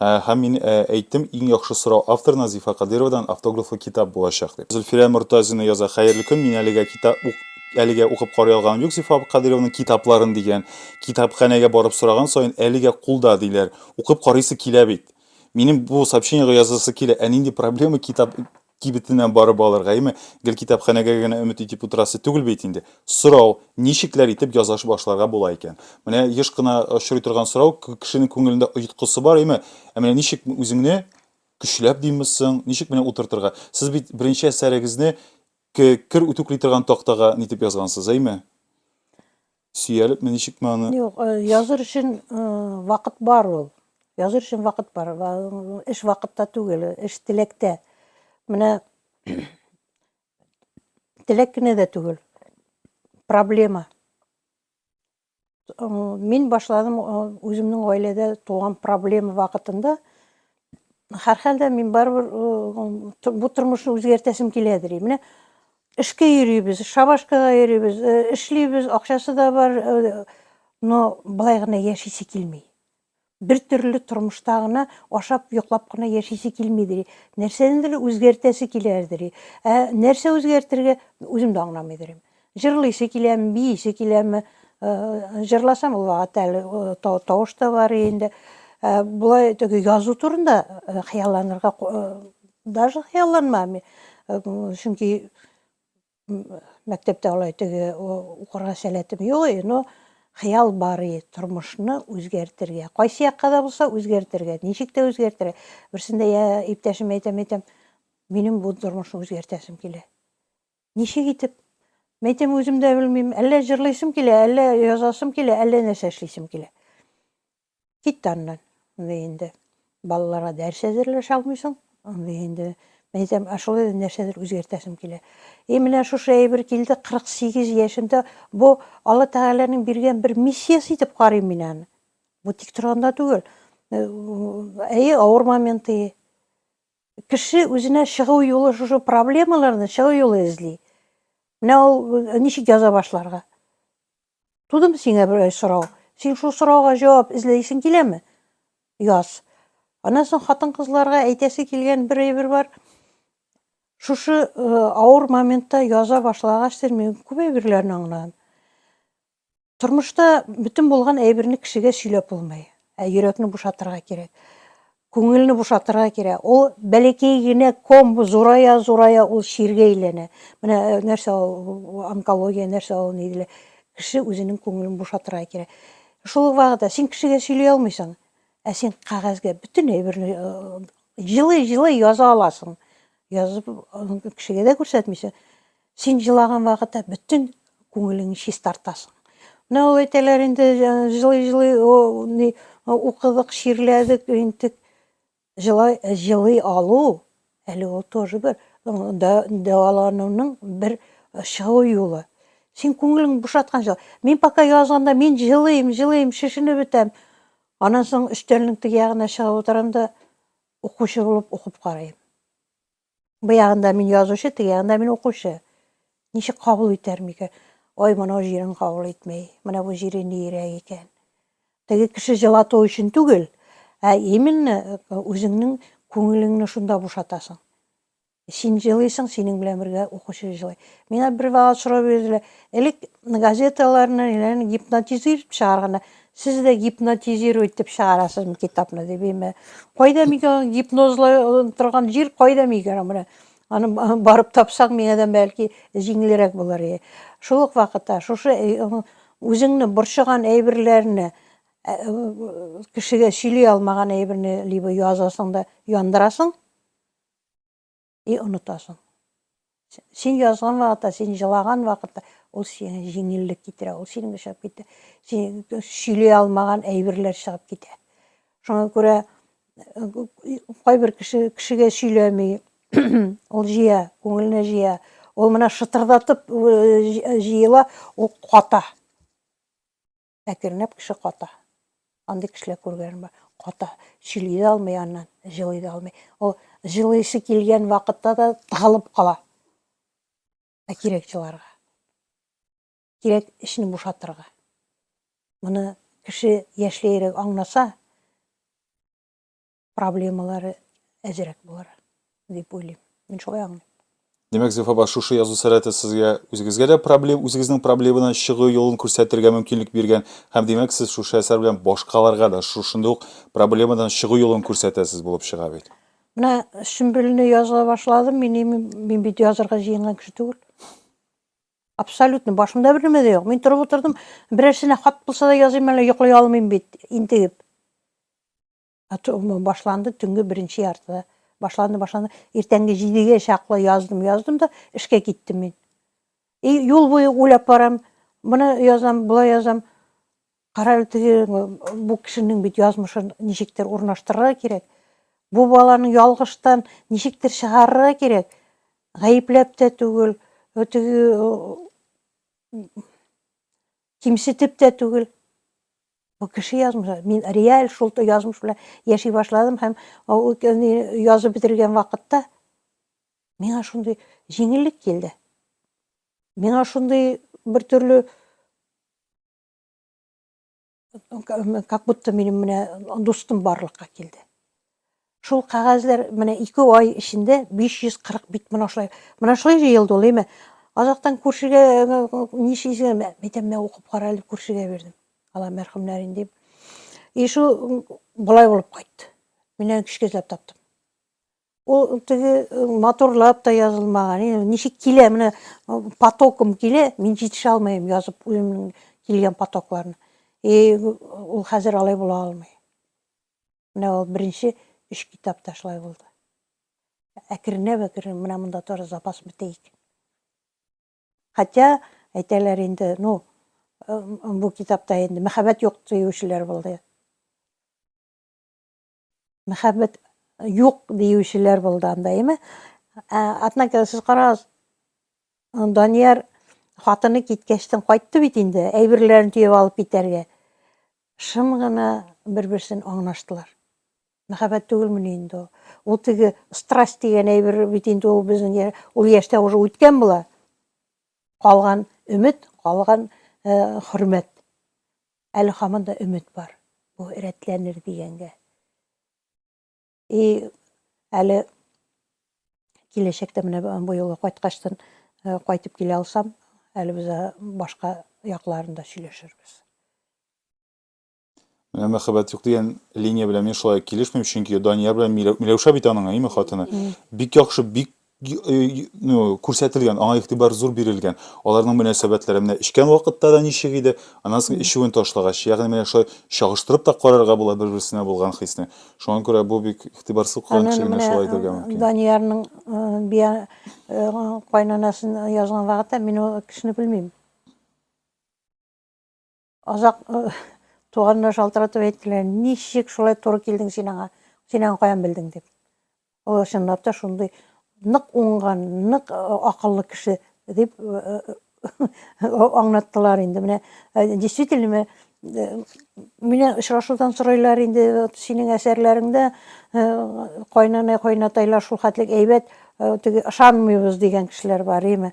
Һәм мин әйттем, иң яхшы сорау автор Назифа Кадыйровадан автографлы китап булачак дип. Зөлфирә Мортазина яза, Хәерле көн, мин әлегә китап ук әлегә укып карый алганым юк Зифа Кадыйрованың китапларын, дигән. Китапханәгә барып сораган саен, әлегә кулда, диләр. Укып карыйсы килә бит. Минем бу сообщениегә язасы килә, ә нинди проблема китап кибетенә барып алырга, яме гел китапханәгә генә өмет итеп утырасы түгел бит инде. Сорау, ничекләр итеп яза башларга була икән? Менә еш кына очрый торган сорау, кешенең күңелендә оеткысы бар, яме Ә менә ничек үзеңне көчләп димме соң, ничек менә утыртырга? Сез бит беренче әсәрегезне кер үтүкли торган тактага нитеп язгансыз, әйме? Сөялепме, ничекме аны? Юк, э, языр өчен э, вакыт бар ул. Языр өчен вакыт бар. Эш вакытта түгел, эш теләктә. Менә теләк кенә дә түгел. Проблема. Э, мин башладым үземнең гаиләдә туган проблема вакытында. Һәрхәлдә мин барыбер бу тормышны үзгәртәсем килә ди. Менә эшкә йөрибез, шабашкага йөрибез, эшлибез, акчасы да бар, но былай гына яшисе килми. Бер төрле тормышта гына ашап, йоклап кына яшисе килми ди. Нәрсәнедер үзгәртәсе килә ди. Ә нәрсә үзгәртергә үзем дә аңламый дим. Җырлыйсы киләме, биисе киләме, җырласам ул вакыт әле тавыш та бар инде. Болай теге язу турында хыялланырга даже хыялланмам. Чөнки мәктәптә алай теге укырга сәләтем юк, но хыял бар и тормышны үзгәртергә. Кайсы якка да булса үзгәртергә, ничек тә үзгәртергә. Берсендә я иптәшем әйтәм, әйтәм, минем бу тормышны үзгәртәсем килә. Ничек итеп? Мәйтәм, үзем дә белмим. Әллә җырлыйсым килә, әллә язасым килә, әллә нәрсә эшлисем килә. Китте аннан. Андый инде балаларга дәрес әзерләшә алмыйсың. Андый инде мәйтәм, ә шулай да нәрсәдер үзгәртәсем килә. И менә шушы әйбер килде 48 яшемдә. Бу Алла Тәгаләнең биргән бер миссиясе итеп карыйм мин аны. Бу тик торганда түгел. Әйе, авыр моменты. Кеше үзенә чыгу юлы шушы проблемаларны чыгу юлы эзли. Менә ул э, ничек яза башларга? Тудым сиңа бер сорау. Син шул сорауга җавап эзләйсең киләме? Яз. Аннан соң хатын-кызларга әйтәсе килгән бер әйбер бар. Шушы э, авыр моментта яза башлагач, сез мин күп әйберләрне аңладым. Тормышта бөтен булган әйберне кешегә сөйләп булмый. Ә йөрәкне бушатырга кирәк. Күңелне бушатырга кирәк. Ул бәләкәй генә ком зурая, зурая ул чиргә әйләнә. Менә э, нәрсә ул онкология, нәрсә ул ни диләр. Кеше үзенең күңелен бушатырга кирәк. Шул вакытта син кешегә сөйли алмыйсың, ә син кагазьгә бөтен әйберне җылы-җылы э, яза аласың. Язып кешегә дә күрсәтмисең. Син җылаган вакытта бөтен күңелеңне чистартасың. Менә ул әйтәләр инде җылый-җылый ни укыдык, чирләдек, интек. Җылай җылый алу әле ул тоже бер дәвалануның бер чыгу юлы. Син күңелеңне бушаткан җыл. Мин пока язганда мин җылыйм, җылыйм, шешенеп бетәм. Аннан соң өстәлнең теге ягына чыгып утырам да укучы булып укып карыйм. Бу ягында мин язучы, теге ягында мин укучы. Ничек кабул итәр микән? Ой, моның җирен кабул итми. Менә бу җире ниерәк икән. Теге кеше җылату өчен түгел, ә именно э, үзеңнең күңелеңне шунда бушатасың. Син җылыйсың, синең белән бергә укучы җылый. Миңа бер вакыт сорау бирделәр, элек газеталарны гипнотизирует чыгарганда, Сез дә гипнотизирую итеп чыгарасызмы китапны дип име? Кайда микән аны гипнозлай торган җир кайда микән менә? Аны барып тапсаң миңа да бәлки җиңелрәк булыр иде. Шул ук вакытта шушы үзеңне борчыган әйберләрне кешегә сөйли алмаган әйберне либо язасың да яндырасың, и онытасың. Син язган вакытта, син җылаган вакытта ул сиңа җиңеллек китерә, ул синең чыгып китә. Син сөйли алмаган әйберләр чыгып китә. Шуңа күрә кайбер кеше кешегә сөйләми, ул җыя, күңеленә җыя. Ул менә шытырдатып җыела, ул ката. Әкренләп кеше ката. Андый кешеләр күргәнем бар. Ката, сөйли дә алмый аннан, җылый да алмый. Ул җылыйсы килгән вакытта да тыгылып кала. Ә кирәк җыларга. Кирәк эчне бушатырга. Моны кеше яшьләерәк аңласа, проблемалары әзрәк булыр дип уйлыйм. Мин шулай аңлыйм. Димәк, Зифа апа, шушы язу сәләте сезгә үзегезгә дә проблем, үзегезнең проблемадан чыгу юлын күрсәтергә мөмкинлек биргән һәм димәк, сез шушы әсәр белән башкаларга да шушындый ук проблемадан чыгу юлын күрсәтәсез булып чыга бит. Менә Сөмбелне яза башладым, мин, мин бит язырга җыенган кеше түгел. Абсолютно башымда бер нәмә дә юк. Мин торып утырдым, берәрсенә хат булса да языйм әле, йоклый алмыйм бит, интегеп. Башланды, төнге беренче яртыда. Башланды, башланды. Иртәнге җидегә чаклы яздым, яздым да эшкә киттем мин. И юл буе уйлап барам, моны язам, болай язам. Кара әле теге бу кешенең бит язмышын ничектер урнаштырырга кирәк. Бу баланы ялгыштан ничектер чыгарырга кирәк. Гаепләп тә түгел, теге кимсетеп тә түгел. Бу кеше язмышы. Мин реаль шул язмыш белән яши башладым һәм язып бетергән вакытта миңа шундый җиңеллек килде. Миңа шундый бер төрле как будто минем менә дустым барлыкка килде. Шул кәгазьләр менә ике ай эчендә 540 бит менә шулай. Менә шулай җыелды ул, әйме? Азактан күршегә нишлисең, мә, әйтәм, мә укып кара әле, күршегә бирдем. Алла мәрхүмнәрен дип. И шул болай булып кайтты. Мин аны кичкә эзләп таптым. Ул теге матурлап та язылмаган. Инде ничек килә, менә потоком килә, мин җитешә алмыйм язып үземнең килгән потокларны. И ул хәзер алай була алмый. Менә ул беренче өч китап та шулай булды. Әкренләп-әкренләп менә монда тоже запас бетәйек. Хотя әйтәләр инде, ну, э, бу китапта инде мәхәббәт юк диючеләр булды. Мәхәббәт юк диючеләр булды анда, әйме? Ә, однако сез карагыз, Данияр хатыны киткәчтен кайтты бит инде, әйберләрен төяп алып китәргә. Шым гына бер-берсен аңлаштылар. Мәхәббәт түгелмени инде ул? Ул теге страсть дигән әйбер бит инде ул безнең ул яшьтә уже үткән була. Калган өмет, калган э, хөрмәт. Әле хаман да өмет бар. Бу рәтләнер дигәнгә. И әле киләчәктә менә бу юлы кайткачтын э, кайтып килә алсам, әле без э, башка якларында сөйләшербез. Менә мәхәббәт юк дигән линия белән мин шулай килешмим, чөнки Данияр белән Миләүшә бит аның, әйме хатыны. Бик яхшы, бик ну, күрсәтелгән, аңа игътибар зур бирелгән. Аларның мөнәсәбәтләре менә эчкән вакытта да ничек иде, аннан соң эчүен ташлагач, ягъни менә шулай чагыштырып та карарга була бер-берсенә булган хисне. Шуңа күрә бу бик игътибарсыз калган кеше генә шулай әйтергә мөмкин. Даниярның бия кайнанасын язган вакытта мин ул кешене белмим. Озак туганнар шалтыратып әйттеләр, ничек шулай туры килдең син аңа, син аңа каян белдең дип. Ул чынлап та шундый нык уңган, нык э, акыллы кеше дип э, э, аңлаттылар инде. Менә действительно менә очрашудан сорайлар инде синең әсәрләреңдә кайнана кайнатайлар шул хәтлек әйбәт теге ышанмыйбыз дигән кешеләр бар име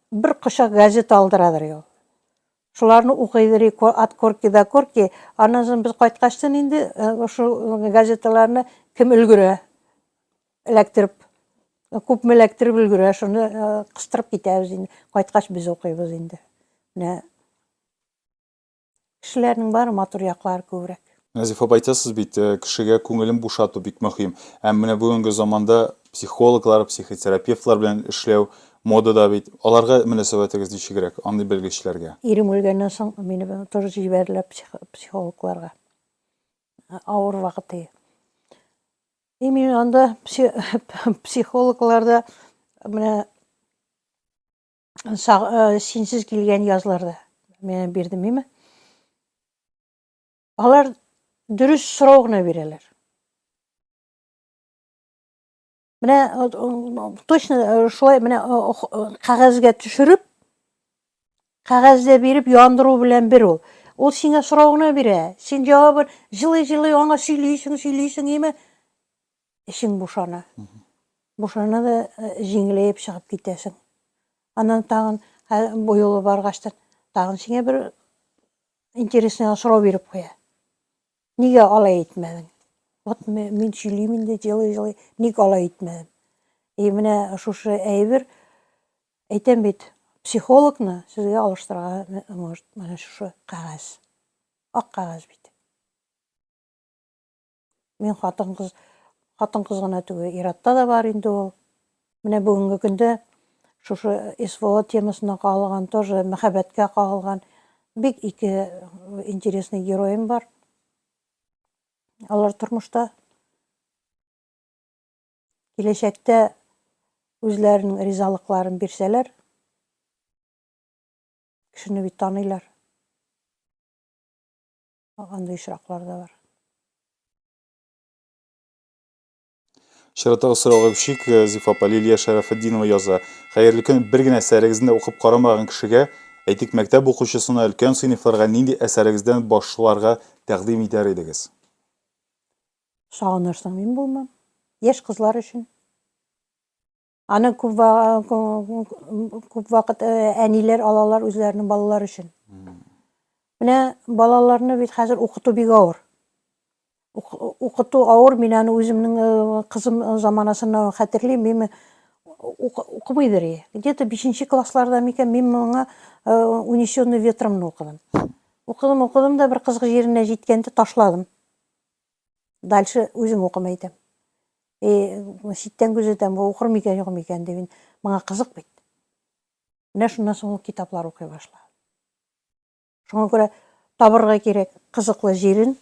Бер кочак газета алдырадыр ул. Шуларны укыйдыр, от корки до корки. Аннан соң без кайткачтын инде шул газеталарны кем өлгерә эләктереп, күпме эләктереп өлгерә, шуны кыстырып китәбез инде. Кайткач без укыйбыз инде. Менә Кешеләрнең бары матур яклары күбрәк. Назиф апа, әйтәсез бит, кешегә күңелен бушату бик мөһим. Ә менә бүгенге заманда психологлар, психотерапевтлар белән эшләү модада бит. Аларга мөнәсәбәтегез ничегрәк, андый белгечләргә? Ирем үлгәннән соң мине тоже җибәрделәр психологларга. Авыр вакыты. И мин анда психологларда менә синсез килгән язларда менә бирдем име алар дөрес сорау гына бирәләр менә точно э, шулай менә э, э, кәгазьгә төшереп кәгазьдә биреп яндыру белән бер ул ул сиңа сорау гына бирә син җавабын җылый җылый аңа сөйлисең сөйлисең име эчең бушана. Бушана да э, җиңеләеп чыгып китәсең. Аннан тагын бу юлы баргачтан тагын сиңа бер интересный сорау биреп куя. Нигә алай итмәдең? Вот мин сөйлим инде җылы-җылы, ник алай итмәдем? И менә шушы әйбер әйтәм бит, психологны сезгә алыштырырга э, может, менә шушы кәгазь. Ак кәгазь бит. Мин хатын-кыз хатын-кыз гына түгел, иратта да бар инде ул. Менә бүгенге көндә шушы СВО темасына кагылган, тоже мәхәббәткә кагылган бик ике интересный героем бар. Алар тормышта киләчәктә үзләренең ризалыкларын бирсәләр, кешене бит таныйлар. Андый очраклар да бар. Чираттагы сорау гөбшик Зифа апа Лилия Шәрәфетдинова яза. Хәерле көн. Бер генә әсәрегезне укып карамаган кешегә, әйтик, мәктәп укучысына, өлкән сыйныфларга нинди әсәрегездән башларга тәкъдим итәр идегез? Сагынырсың, мин булмам. Яшь кызлар өчен. Аны күп вакыт әниләр алалар үзләренең балалар өчен. Менә балаларны бит хәзер укыту бик авыр. Укыту авыр, мин аны үземнең кызым заманасыннан хәтерлим, мин укымыйдыр и. Где-то 5 классларда микән мин моңа унесённый ветром укыдым. Укыдым, укыдым да бер кызык җиренә җиткәндә ташладым. дальше үзем укымый итәм. И э, читтән күзәтәм, бу укыр микән, юк микән дип инде. Моңа кызык бит. Менә шуннан соң ул китаплар укый башлады. Шуңа күрә табырга кирәк кызыклы җирен.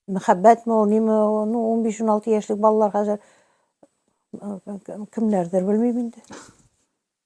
Мәхәббәтме ул, ниме, ну 15-16 яшьлек балалар хәзер э, э, кемнәрдер белмим инде.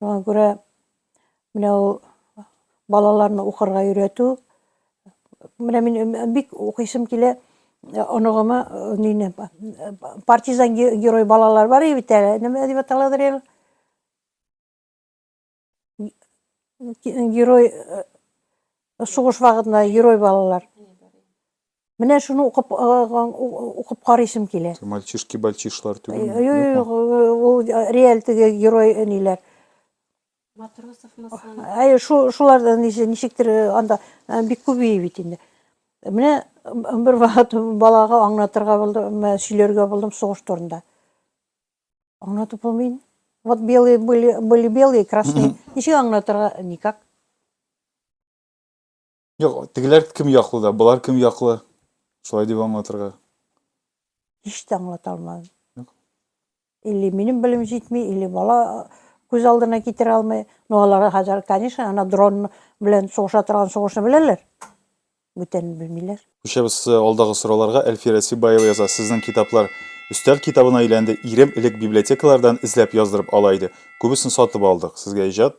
Шуңа күрә менә ул балаларны укырга өйрәтү. Менә мин бик укыйсым килә оныгыма нине партизан герой балалар бар и бит әле. Нәмә дип аталадыр әле? Герой сугыш вакытында герой балалар. Менә шуны укып укып карыйсым килә. Мальчишки-бальчишлар түгел. Юк, ул реаль теге герой ниләр. Матросов Маслан. Әй, шулар да ничектер анда бик күп бии бит инде. Менә бер вакыт балага аңлатырга булдым, сөйләргә булдым сугыш турында. Аңлатып булмый. Вот белые были, были белые, красные. Ничек аңлатырга? Никак. Юк, тегеләр кем яклы да, болар кем яклы? Шулай дип аңлатырга. Һич тә аңлата алмадым. Юк. Или минем белем җитми, или бала күз алдына китерә алмый. Ну, алар хәзер, конечно, ана дрон белән сугыша торган сугышны беләләр. Бүтәнен белмиләр. Күчәбез э, алдагы сорауларга. Әлфирә Сибаева яза, сезнең китаплар өстәл китабына әйләнде. Ирем элек библиотекалардан эзләп яздырып ала иде. Күбесен сатып алдык. Сезгә иҗат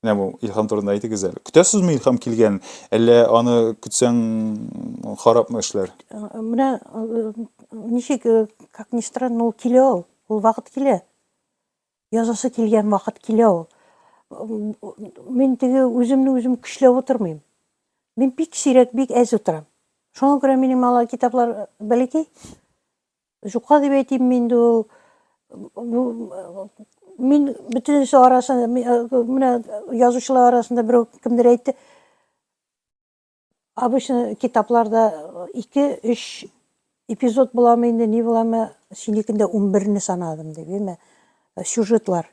Менә бу Илһам турында әйтегез әле. Көтәсезме Илһам килгән, әллә аны көтсәң харапмы эшләр? Менә ничек, как ни странно, ул килә ул. Ул вакыт килә. Язасы килгән вакыт килә ул. Мин теге үземне үзем көчләп утырмыйм. Мин бик сирәк, бик әз утырам. Шуңа күрә минем ала китаплар бәләкәй. Җука дип әйтимме инде ул. Мин бөтенесе арасында, менә язучылар арасында берәү кемдер әйтте. Обычно китапларда 2-3 эпизод буламы инде, ни буламы, синекендә 11-не санадым дип, яме сюжетлар.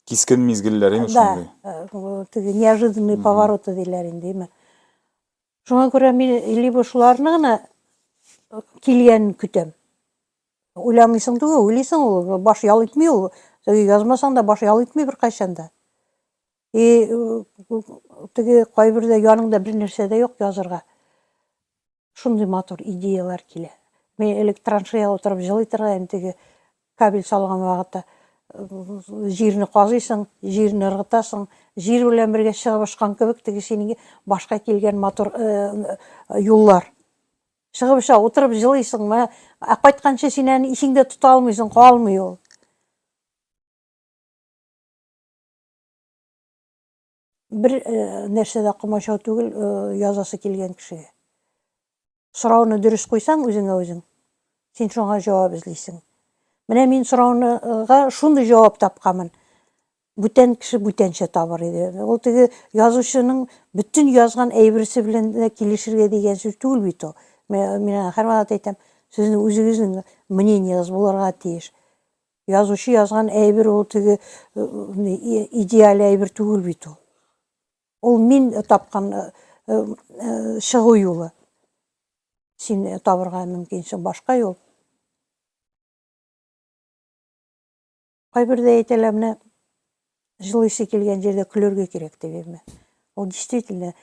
Кискен мизгелләр име шундый? Да, неожиданные повороты диләр инде, яме. Шуңа күрә мин либо шуларны гына килгәнен көтәм. Уйламыйсың түгел, уйлыйсың ул, баш ял итми ул. Теге язмасаң да баш ял итми беркайчан да. И теге кайбердә яныңда бер нәрсә дә юк язырга. Шундый матур идеялар килә. Мин элек траншея утырып җылый торган идем теге Кабель салган вакытта җирне казыйсың, җирне ыргытасың, җир белән бергә чыгып очкан кебек теге синең башка килгән матур юллар. Чыгып оча, утырып җылыйсыңмы, ә кайтканчы син әни исеңдә тота алмыйсың, калмый ул. Бер нәрсә дә комачау түгел, язасы килгән кешегә. Сорауны дөрес куйсаң үзеңә үзең, син шуңа җавап эзлисең. Менә мин сорауныга шундый җавап тапканмын. Бүтән кеше бүтәнчә табыр иде. Ул теге язучының бөтен язган әйберсе белән дә килешергә дигән сүз түгел бит ул. Мин һәрвакыт әйтәм, сезнең үзегезнең мнениегез булырга тиеш. Язучы язган әйбер ул теге идеаль әйбер түгел бит ул. Ул мин тапкан чыгу юлы. Син табырга мөмкинсең башка юл. Кайбердә әйтәләр менә Җылыйсы килгән җирдә көлергә кирәк дигәнме? Ул действительно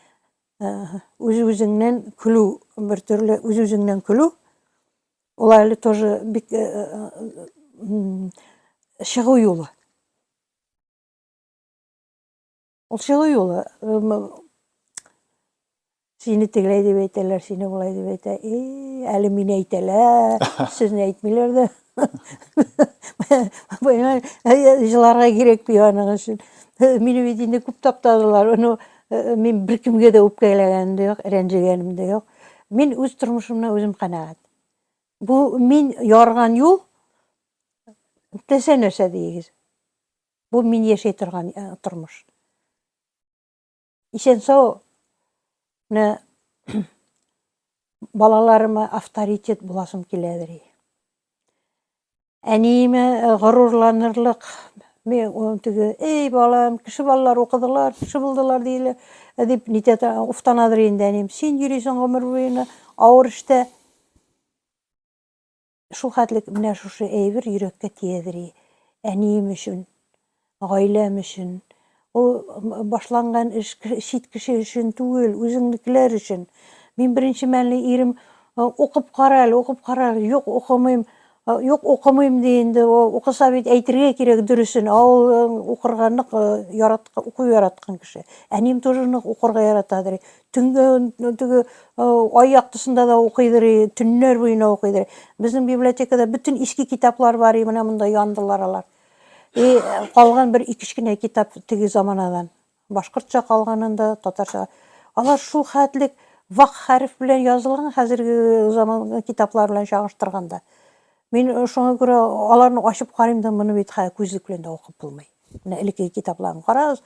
үз-үзеңнән көлү, бер төрле үз-үзеңнән көлү. Ул әле тоже бик чыгу юлы. Ул чыгу юлы. Сине тегеләй дип әйтәләр, сине болай дип әйтә. И, әле мине әйтәләр, сезне әйтмиләр дә. Понимаешь, җыларга кирәк бит аның өчен. Мине бит инде күп таптадылар. Ну, мин беркемгә дә үпкәләгәнем дә юк, рәнҗегәнем дә юк. Мин үз тормышымнан үзем канәгать. Бу мин ярган юл теләсә нәрсә дигез. Бу мин яшәй торган тормыш. Исән-сау менә балаларыма авторитет буласым киләдер. Әниемә э, горурланырлык мен теге эй балам кеше балалар укыдылар кеше булдылар диелә э, дип нитә уфтанадыр инде әнием син йөрисең гомер буена авыр эштә Шул хәтлек менә шушы әйбер йөрәккә тиядери. Әнием өчен, гаиләм өчен. Ул башланган эш чит кеше өчен түгел, үзеңнекеләр өчен. Мин беренче мәлне ирем, Укып кара әле, укып кара әле. Юк, укымыйм. Юк, укымыйм ди инде. Укыса бит әйтергә кирәк дөресен. Ә ул укырга нык ярат, уку яраткан кеше. Әнием тоже нык укырга яратадыр. Төнге төнге ай яктысында да укыйдыр, төннәр буена укыйдыр. Безнең библиотекада бөтен иске китаплар бар, и менә монда яндылар алар. И калган бер ике кенә китап теге заманадан. Башкортча калганында татарча. Алар шул хәтлек вак хәреф белән язылган хәзерге заман китаплар белән чагыштырганда. Мин шуңа күрә аларны ачып карыйм да, моны бит күзлек белән дә укып булмый. Менә элеккеге китапларын карагыз,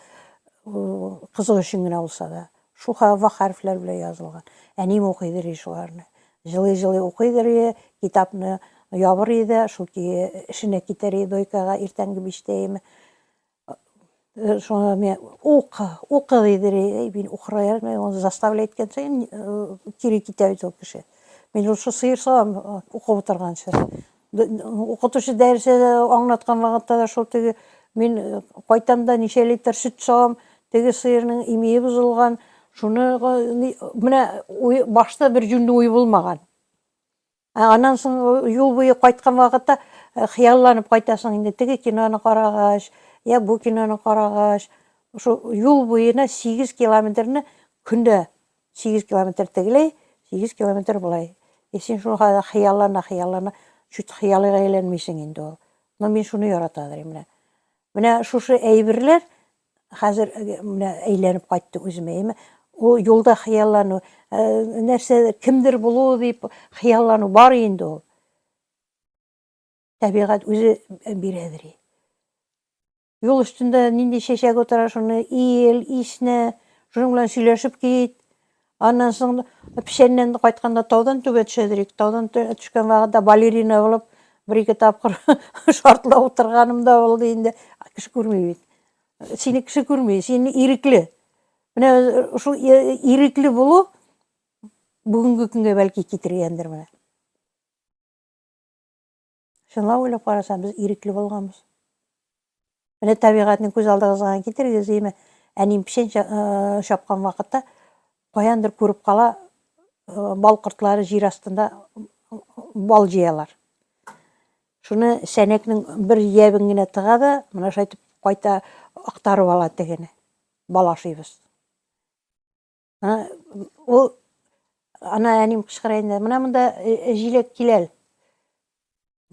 кызык өчен генә булса да, шуха ва хәрефләр белән язылган. Әнием укыйдыр иде шуларны. Җылый-җылый укыйдыр иде, китапны ябыр иде, шул эшенә китәр иде дойкага иртәнге биштәеме. Шуңа мен укы, укы дидер иде, мин укырга яратмый, аны заставлять иткән саен кире китә бит ул кеше. Мин ул сыер савам укып утырганчы. Укытучы дәресе аңлаткан вакытта да шул теге мин э, кайтам да ничә литр сөт савам, теге сыерның имие бозылган, шуны менә башта бер җүнле уй булмаган. Ә аннан соң э, юл буе кайткан вакытта э, хыялланып кайтасың инде теге киноны карагач, я бу киноны карагач, шул юл буена 8 километрны көндә 8 километр тегеләй, 8 километр болай. И син шул хәлдә хыяллана, хыяллана, чуть хыялыга әйләнмисең инде ул. Но мин шуны ярата дим менә. Менә шушы әйберләр хәзер э, менә әйләнеп кайтты үземә. Яме ул юлда хыяллану, э, нәрсә кемдер булу дип хыяллану бар инде ул. Табигать үзе бирәдер. Юл өстендә нинди чәчәк утыра, шуны ил, ишне, шуның белән сөйләшеп кит. Аннан соң печәннән кайтканда таудан түбә төшәдер ик. Таудан төшкән вакытта балерина булып бер-ике тапкыр шартлап утырганым да булды инде. Кеше күрми бит. Сине кеше күрми, син ирекле. Менә шул ирекле булу бүгенге көнгә бәлки китергәндер менә. Чынлап уйлап карасаң, без ирекле булганбыз. Менә табигатьне күз алдыгызга китерегез, әйме, әним печән чапкан вакытта каяндыр күреп кала, бал кортлары җир астында бал җыялар. Шуны сәнәкнең бер ябын генә тыга да, менә шайтып кайта актарып ала тегене. Бал ашыйбыз. Ул ана әним кычкыра инде. Менә монда э, э, җиләк киләл.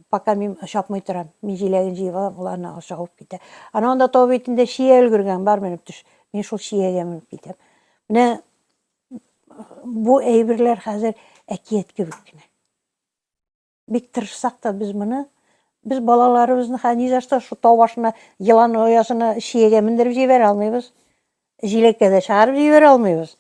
Пока мин чапмый торам. Мин җиләген җыеп алам, ул ана ашагып китә. Ана анда тау битендә чия өлгергән, бар менеп төш. Мин шул чиягә менеп китәм. Менә бу әйберләр хәзер әкият кебек кенә. Бик тырышсак та без моны без балаларыбызны хә ни за что шу тау башына елан оясына чиягә мендереп җибәрә алмыйбыз. Җиләккә дә чыгарып җибәрә алмыйбыз.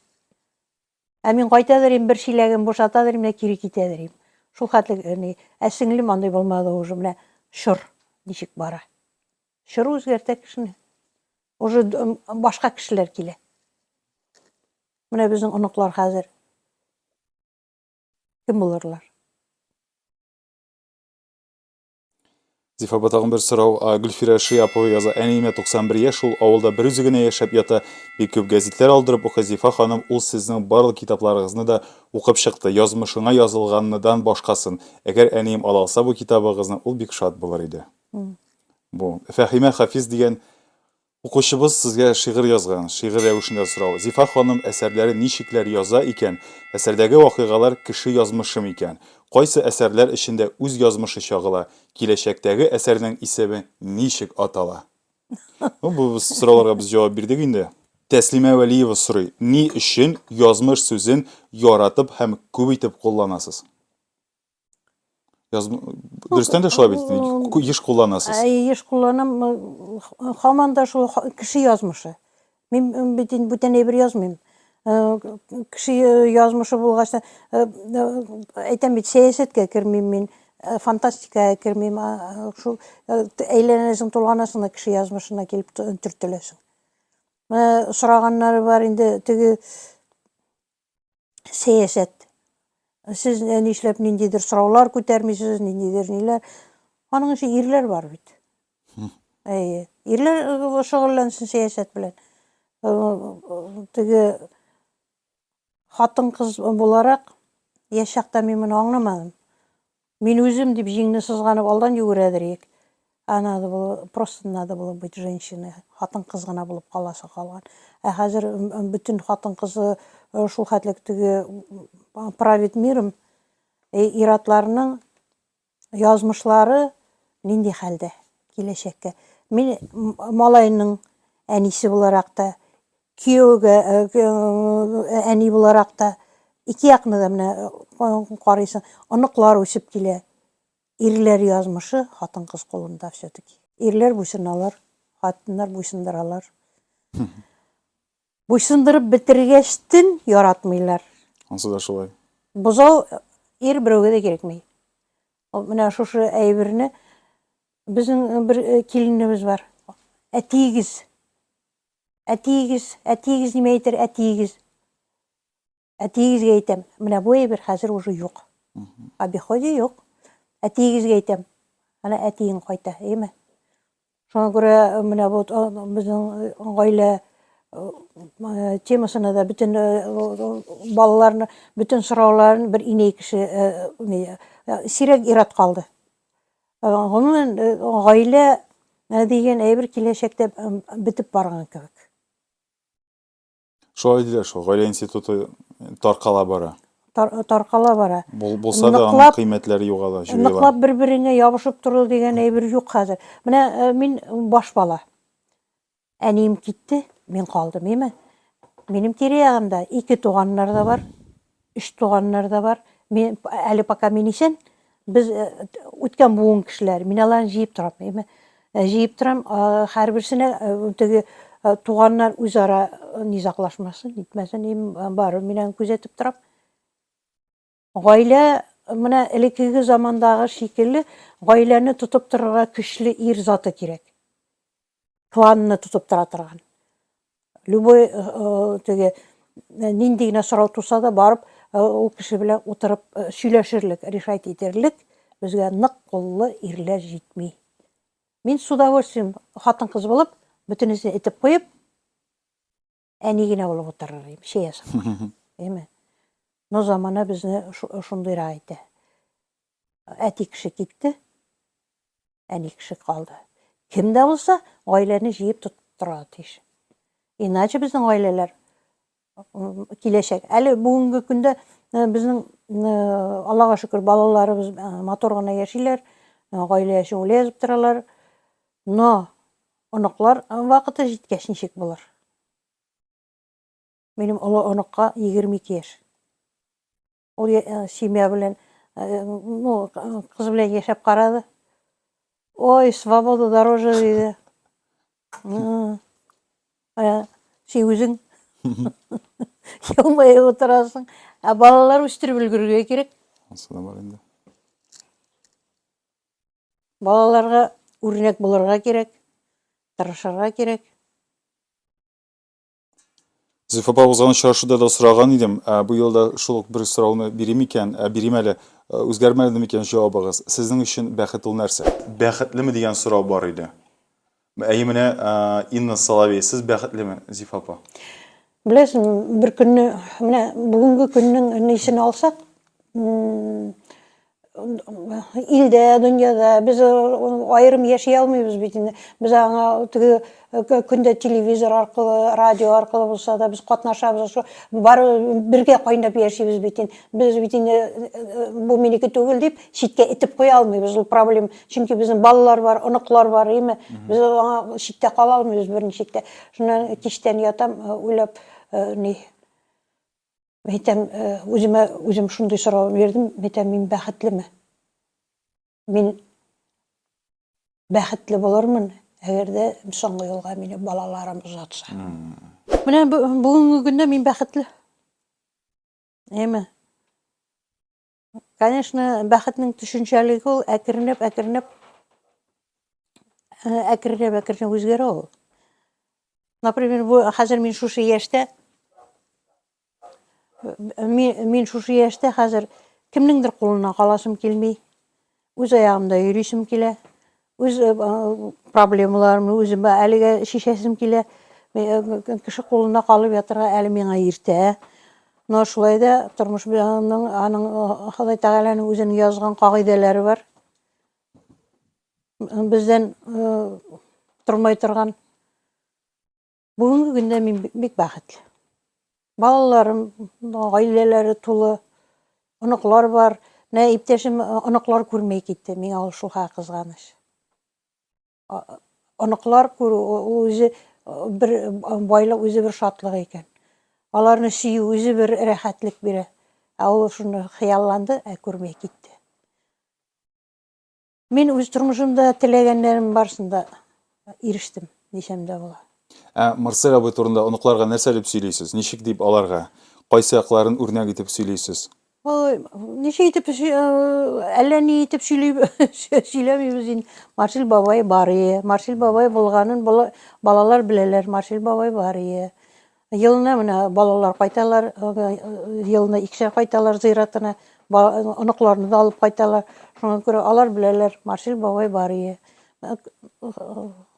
Ә мин кайта дирим, бер чиләген бушата дирим дә кире китә дирим. Шул хәтле ни. Ә сеңлем андый булмады уже менә чор ничек бара. Чор үзгәртә кешене. Уже башка кешеләр килә. Менә безнең оныклар хәзер. Кем булырлар? Зифа апа тагын бер сорау. Гөлфирә Шиапова яза. Әниемә 91 яшь, ул авылда бер үзе генә яшәп ята. Бик күп гәзитләр алдырып укый Зифа ханым, ул сезнең барлык китапларыгызны да укып чыкты, язмышыңа язылганныдан башкасын. Әгәр әнием ала алса бу китабыгызны, ул бик шат булыр иде. Бу Фәхимә Хафиз дигән Укучыбыз сезгә шигырь язган, шигырь рәвешендә сорау, Зифа ханым әсәрләре ничекләр яза икән, әсәрдәге вакыйгалар кеше язмышы микән? Кайсы әсәрләр эчендә үз язмышы чагыла? Киләчәктәге әсәрнең исеме ничек атала? Ну, бу сорауларга без җавап бирдек инде. Тәслимә Вәлиева сорый, ни өчен язмыш сүзен яратып һәм күп итеп кулланасыз? Яз... Дөрестән дә шулай бит. Еш кулланасыз. Ә, еш кулланам. Хаман да шул кеше язмышы. Мин бит инде бүтән әйбер язмыйм. Э, кеше э, язмышы булгач та э, әйтәм бит сәясәткә кермим мин фантастикага кермим шул әйләнәсең тулганасың да кеше язмышына килеп төртеләсең сораганнары бар инде теге сәясәт. Сез э, нишләп ниндидер сораулар күтәрмисез, ниндидер ниләр. Аның өчен ирләр бар бит. Әйе. Ирләр э, шөгыльләнсен сәясәт белән. Э, теге хатын-кыз буларак яшь чакта мин моны аңламадым. Мин үзем дип җиңне сызганып алдан йөгерәдер ик. Ә надо было, просто надо было быть женщиной, хатын-кыз гына булып каласы калган. Ә хәзер бөтен хатын-кызы шул хәтлек теге правит миром. Э, иратларның язмышлары нинди хәлдә киләчәккә? Мин малайның әнисе буларак та кияүгә әни буларак та ике якны да менә карыйсың оныклар үсеп килә ирләр язмышы хатын кыз кулында все таки ирләр буйсыналар хатыннар буйсындыралар буйсындырып бетергәч төн яратмыйлар ансы да шулай бозау ир берәүгә дә кирәкми менә шушы әйберне безнең бер киленебез бар әтиегез Әтиегез, әтиегез нимә әйтер, әтиегез? Әтиегезгә әйтәм, менә бу әйбер хәзер уже юк. В обиходе юк. Әтиегезгә әйтәм, ана әтиең кайта, әйеме? Шуңа күрә э, менә бу э, безнең э, гаилә темасына да бөтен балаларны, бөтен сорауларын бер инәй кеше сирәк ират калды. Гомумән, гаилә дигән әйбер киләчәктә бетеп барган кебек. Шулай диләр шул, гаилә институты таркала бара. Таркала бара. Булса да аның кыйммәтләре югала, җуела. Ныклап бер-береңә ябышып тору дигән әйбер юк хәзер. Менә мин баш бала. Әнием китте, мин калдым, име. Минем тирә-ягымда ике туганнар да бар, өч туганнар да бар. Мин әле пока мин исән, без э, үткән буын кешеләр. Мин аларны җыеп торам, име. Э, җыеп торам, һәрберсенә э, теге туганнар үзара низаклашмасын, итмәсен, име, бары мин күзәтеп торам. Гаилә менә элеккеге замандагы шикелле гаиләне тотып торырга көчле ир заты кирәк. Кланны тотып тора торган. Любой э, э, теге э, нинди генә сорау туса да барып ул кеше белән утырып сөйләшерлек, решать итерлек безгә нык куллы ирләр җитми. Мин с удовольствием хатын-кыз булып, бөтенесен итеп куеп, әни генә булып утырыр идем чәй ясап әйме но замана безне шундыйрак итә әти кеше китте әни кеше калды кем дә булса гаиләне җыеп тора тиеш иначе безнең гаиләләр киләчәк әле бүгенге көндә э, безнең э, аллага шөкер балаларыбыз э, матур гына яшиләр гаилә яшәве язып торалар но Оныклар вакыты җиткәч ничек булыр? Минем олы оныкка 22 яшь. Ул семья белән, ну, кыз белән яшәп карады. Ой, свобода дороже диде. Син үзең елмаеп отырасың. Ә балалар үстереп өлгерергә кирәк. Асылы бар инде. Балаларга үрнәк булырга кирәк, тырышырга кирәк. Зифа апа узган очрашуда да сораган идем, ә бу елда шул ук бер сорауны бирим икән, ә бирим әле. Ә, Үзгәрмәде микән җавабыгыз? Сезнең өчен бәхет ул нәрсә? Бәхетлеме дигән сорау бар иде. Әйе, менә Инна Соловей, сез бәхетлеме, Зифа апа? Беләсең, бер көнне, менә бүгенге көннең нисен алсак, илдә, дөньяда без аерым яши алмыйбыз бит инде. Без аңа теге көндә телевизор аркылы, радио аркылы булса да без катнашабыз. Шул бар бергә кайнап яшибез бит инде. Без бит инде бу минеке түгел дип читкә итеп куя алмыйбыз. Ул проблем Чөнки безнең балалар бар, оныклар бар, әйме? Без аңа читтә кала алмыйбыз берничә читтә. Шуннан кичтән ятам, э, уйлап, э, ни Мен әйтәм, э, үземә үзем шундый сорау бирдем, мен әйтәм, мин бәхетлеме? Мин бәхетле булырмын, әгәр дә соңгы юлга мине балаларым озатса. Менә бүгенге көндә мин бәхетле. Әйме? Конечно, бәхетнең төшенчәлеге ул әкренләп, әкренләп э, әкренләп, әкренләп үзгәрә ул. Например, бу хәзер мин шушы яшьтә мин шушы яшьтә хәзер кемнеңдер кулына каласым килми. Үз аягымда йөрисем килә. Үз э, проблемаларымны үземә әлегә шешәсем килә. Э, кеше кулында калып ятырга әле миңа иртә. Но шулай да тормыш белән аның э, Ходай Тәгаләнең үзенең язган кагыйдәләре бар. Бездән тормай торган Бүгенге көндә мин бик бәхетле. Балаларым, гаиләләре тулы, оныклар бар. Менә иптәшем э, оныклар күрмәй китте. Миңа ул шуха кызганыч. Оныклар күрү ул үзе э, бер э, байлык, үзе бер шатлык икән. Аларны сөю үзе бер рәхәтлек бирә. Ә ул шуны хыялланды, ә күрмәй китте. Мин үз тормышымда теләгәннәрем барсында ирештем, дисәм дә була. Ә Марсель абый турында оныкларга нәрсә дип сөйлисез? Ничек дип аларга? Кайсы якларын үрнәк итеп сөйлисез? Ой, ничек итеп әллә ни итеп сөйли сөйләмибез инде. Марсель бабай бар ие. Марсель бабай булганын балалар беләләр. Марсель бабай бар ие. Елны менә балалар кайталар, елны икешәр кайталар зыйратына, оныкларны да алып кайталар. Шуңа күрә алар беләләр, Маршил бабай бар ие.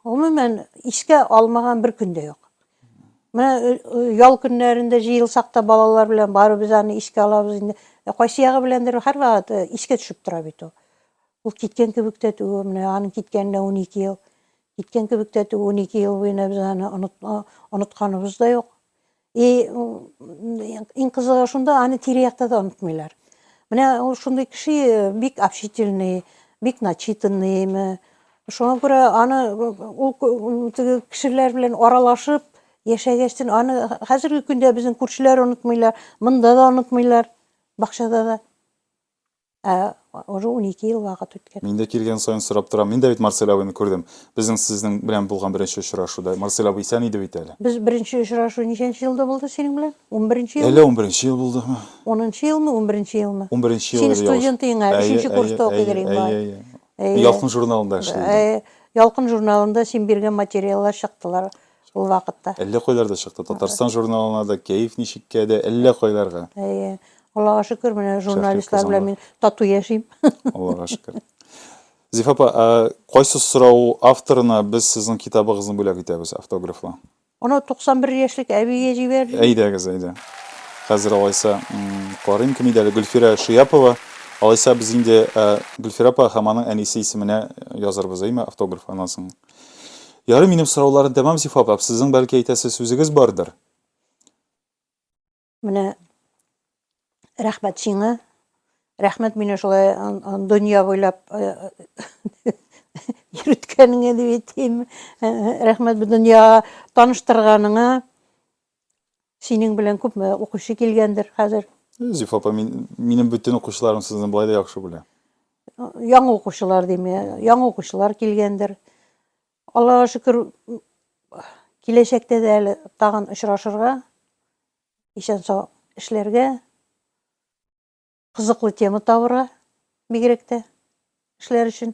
Гомумән, искә алмаган бер көн дә юк. Менә ял көннәрендә җыелсак та балалар белән барыбыз аны искә алабыз инде. Кайсы ягы беләндер һәрвакыт искә төшеп тора бит ул. Ул киткән кебек тә түгел, менә аның киткәненә 12 ел. Киткән кебек тә түгел, унике ел буена без аны онытканыбыз да юк. И иң кызыгы шунда, аны тирә-якта да онытмыйлар. Менә ул шундый кеше бик общительный, бик начитанныймы. Шуңа күрә аны ул кешеләр белән аралашып яшәгәчтен аны хәзерге көндә безнең күршеләр онытмыйлар, монда да онытмыйлар, бакчада да. Ә уже унике ел вакыт үткән. Мин дә килгән саен сорап торам. Мин дә бит Марсель абыйны күрдем. Безнең сезнең белән булган беренче очрашуда. Марсель абый исән иде бит әле. Без беренче очрашу ничәнче елда булды синең белән? Унберенче елмы? Әллә унберенче ел булдымы? Унынчы елмы, унберенче елмы? Унберенче ел иде, ялгышмасам. Син студент идең әле, өченче курста укый идең инде. Әйе, әйе, әйе. Мин Ялкын журналында эшли идем. Әйе, Ялкын журналында син биргән материаллар чыктылар. ул вакытта. Әллә кайларда чыкты. Татарстан журналына да, Кәеф ничеккә дә, әллә кайларга. Әйе. Аллага шөкер, менә журналистлар белән мин тату яшим. Аллага шөкер. Зифа апа, кайсы сорау авторына без сезнең китабыгызны бүләк итәбез автографлы? Аны 91 яшьлек әбигә җибәр. Әйдәгез, әйдә. Хәзер алайса карыйм кем иде әле Гөлфирә Шияпова. Алайса без инде Гөлфирә апа һәм аның әнисе исеменә язарбыз, әйме, автограф аннан соң. Ярый, минем сорауларны тәмам сифаплап, сезнең бәлки әйтәсе сүзегез бардыр? Менә рәхмәт сиңа. Рәхмәт мине шулай дөнья буйлап йөрткәнеңә дип әйтим. Рәхмәт бу дөнья таныштырганыңа. Синең белән күпме укучы килгәндер хәзер? Зифа апа, мин, минем бөтен укучыларым сезне болай да яхшы белә. Яңа укучылар дим, яңа укучылар килгәндер. Аллага шөкер, киләчәктә дә әле тагын очрашырга, исән сау эшләргә, кызыклы тема табырга бигрәк тә эшләр өчен.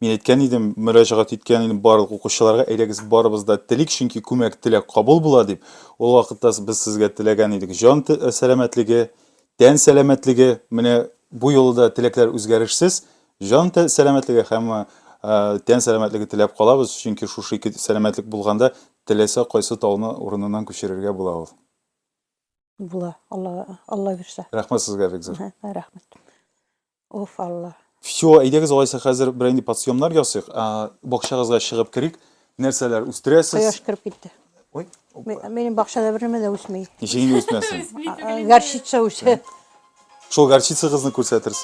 Мин әйткән идем, мөрәҗәгать иткән идем барлык укучыларга, әйдәгез барыбыз да телик, чөнки күмәк теләк кабул була дип. Ул вакытта без сезгә теләгән идек җан сәламәтлеге, тән сәламәтлеге, менә бу юлы да теләкләр үзгәрешсез, җан сәламәтлеге һәм тән сәламәтлеге теләп калабыз, чөнки шушы ике сәламәтлек булганда теләсә кайсы тауны урыныннан күчерергә була ул. Була, Алла, Алла бирсә. Рәхмәт сезгә, бик зур. Рәхмәт. Уф, Алла. Всё, әйдәгез алайса хәзер берәр инде подсъемнар ясыйк. Бакчагызга чыгып керик. Нәрсәләр үстерәсез? Кояш кереп китте. Ой. Минем бакчада бер нәмә дә үсми. Ничек инде үсмәсен? Горчица үсә. Шул горчицагызны күрсәтерсез.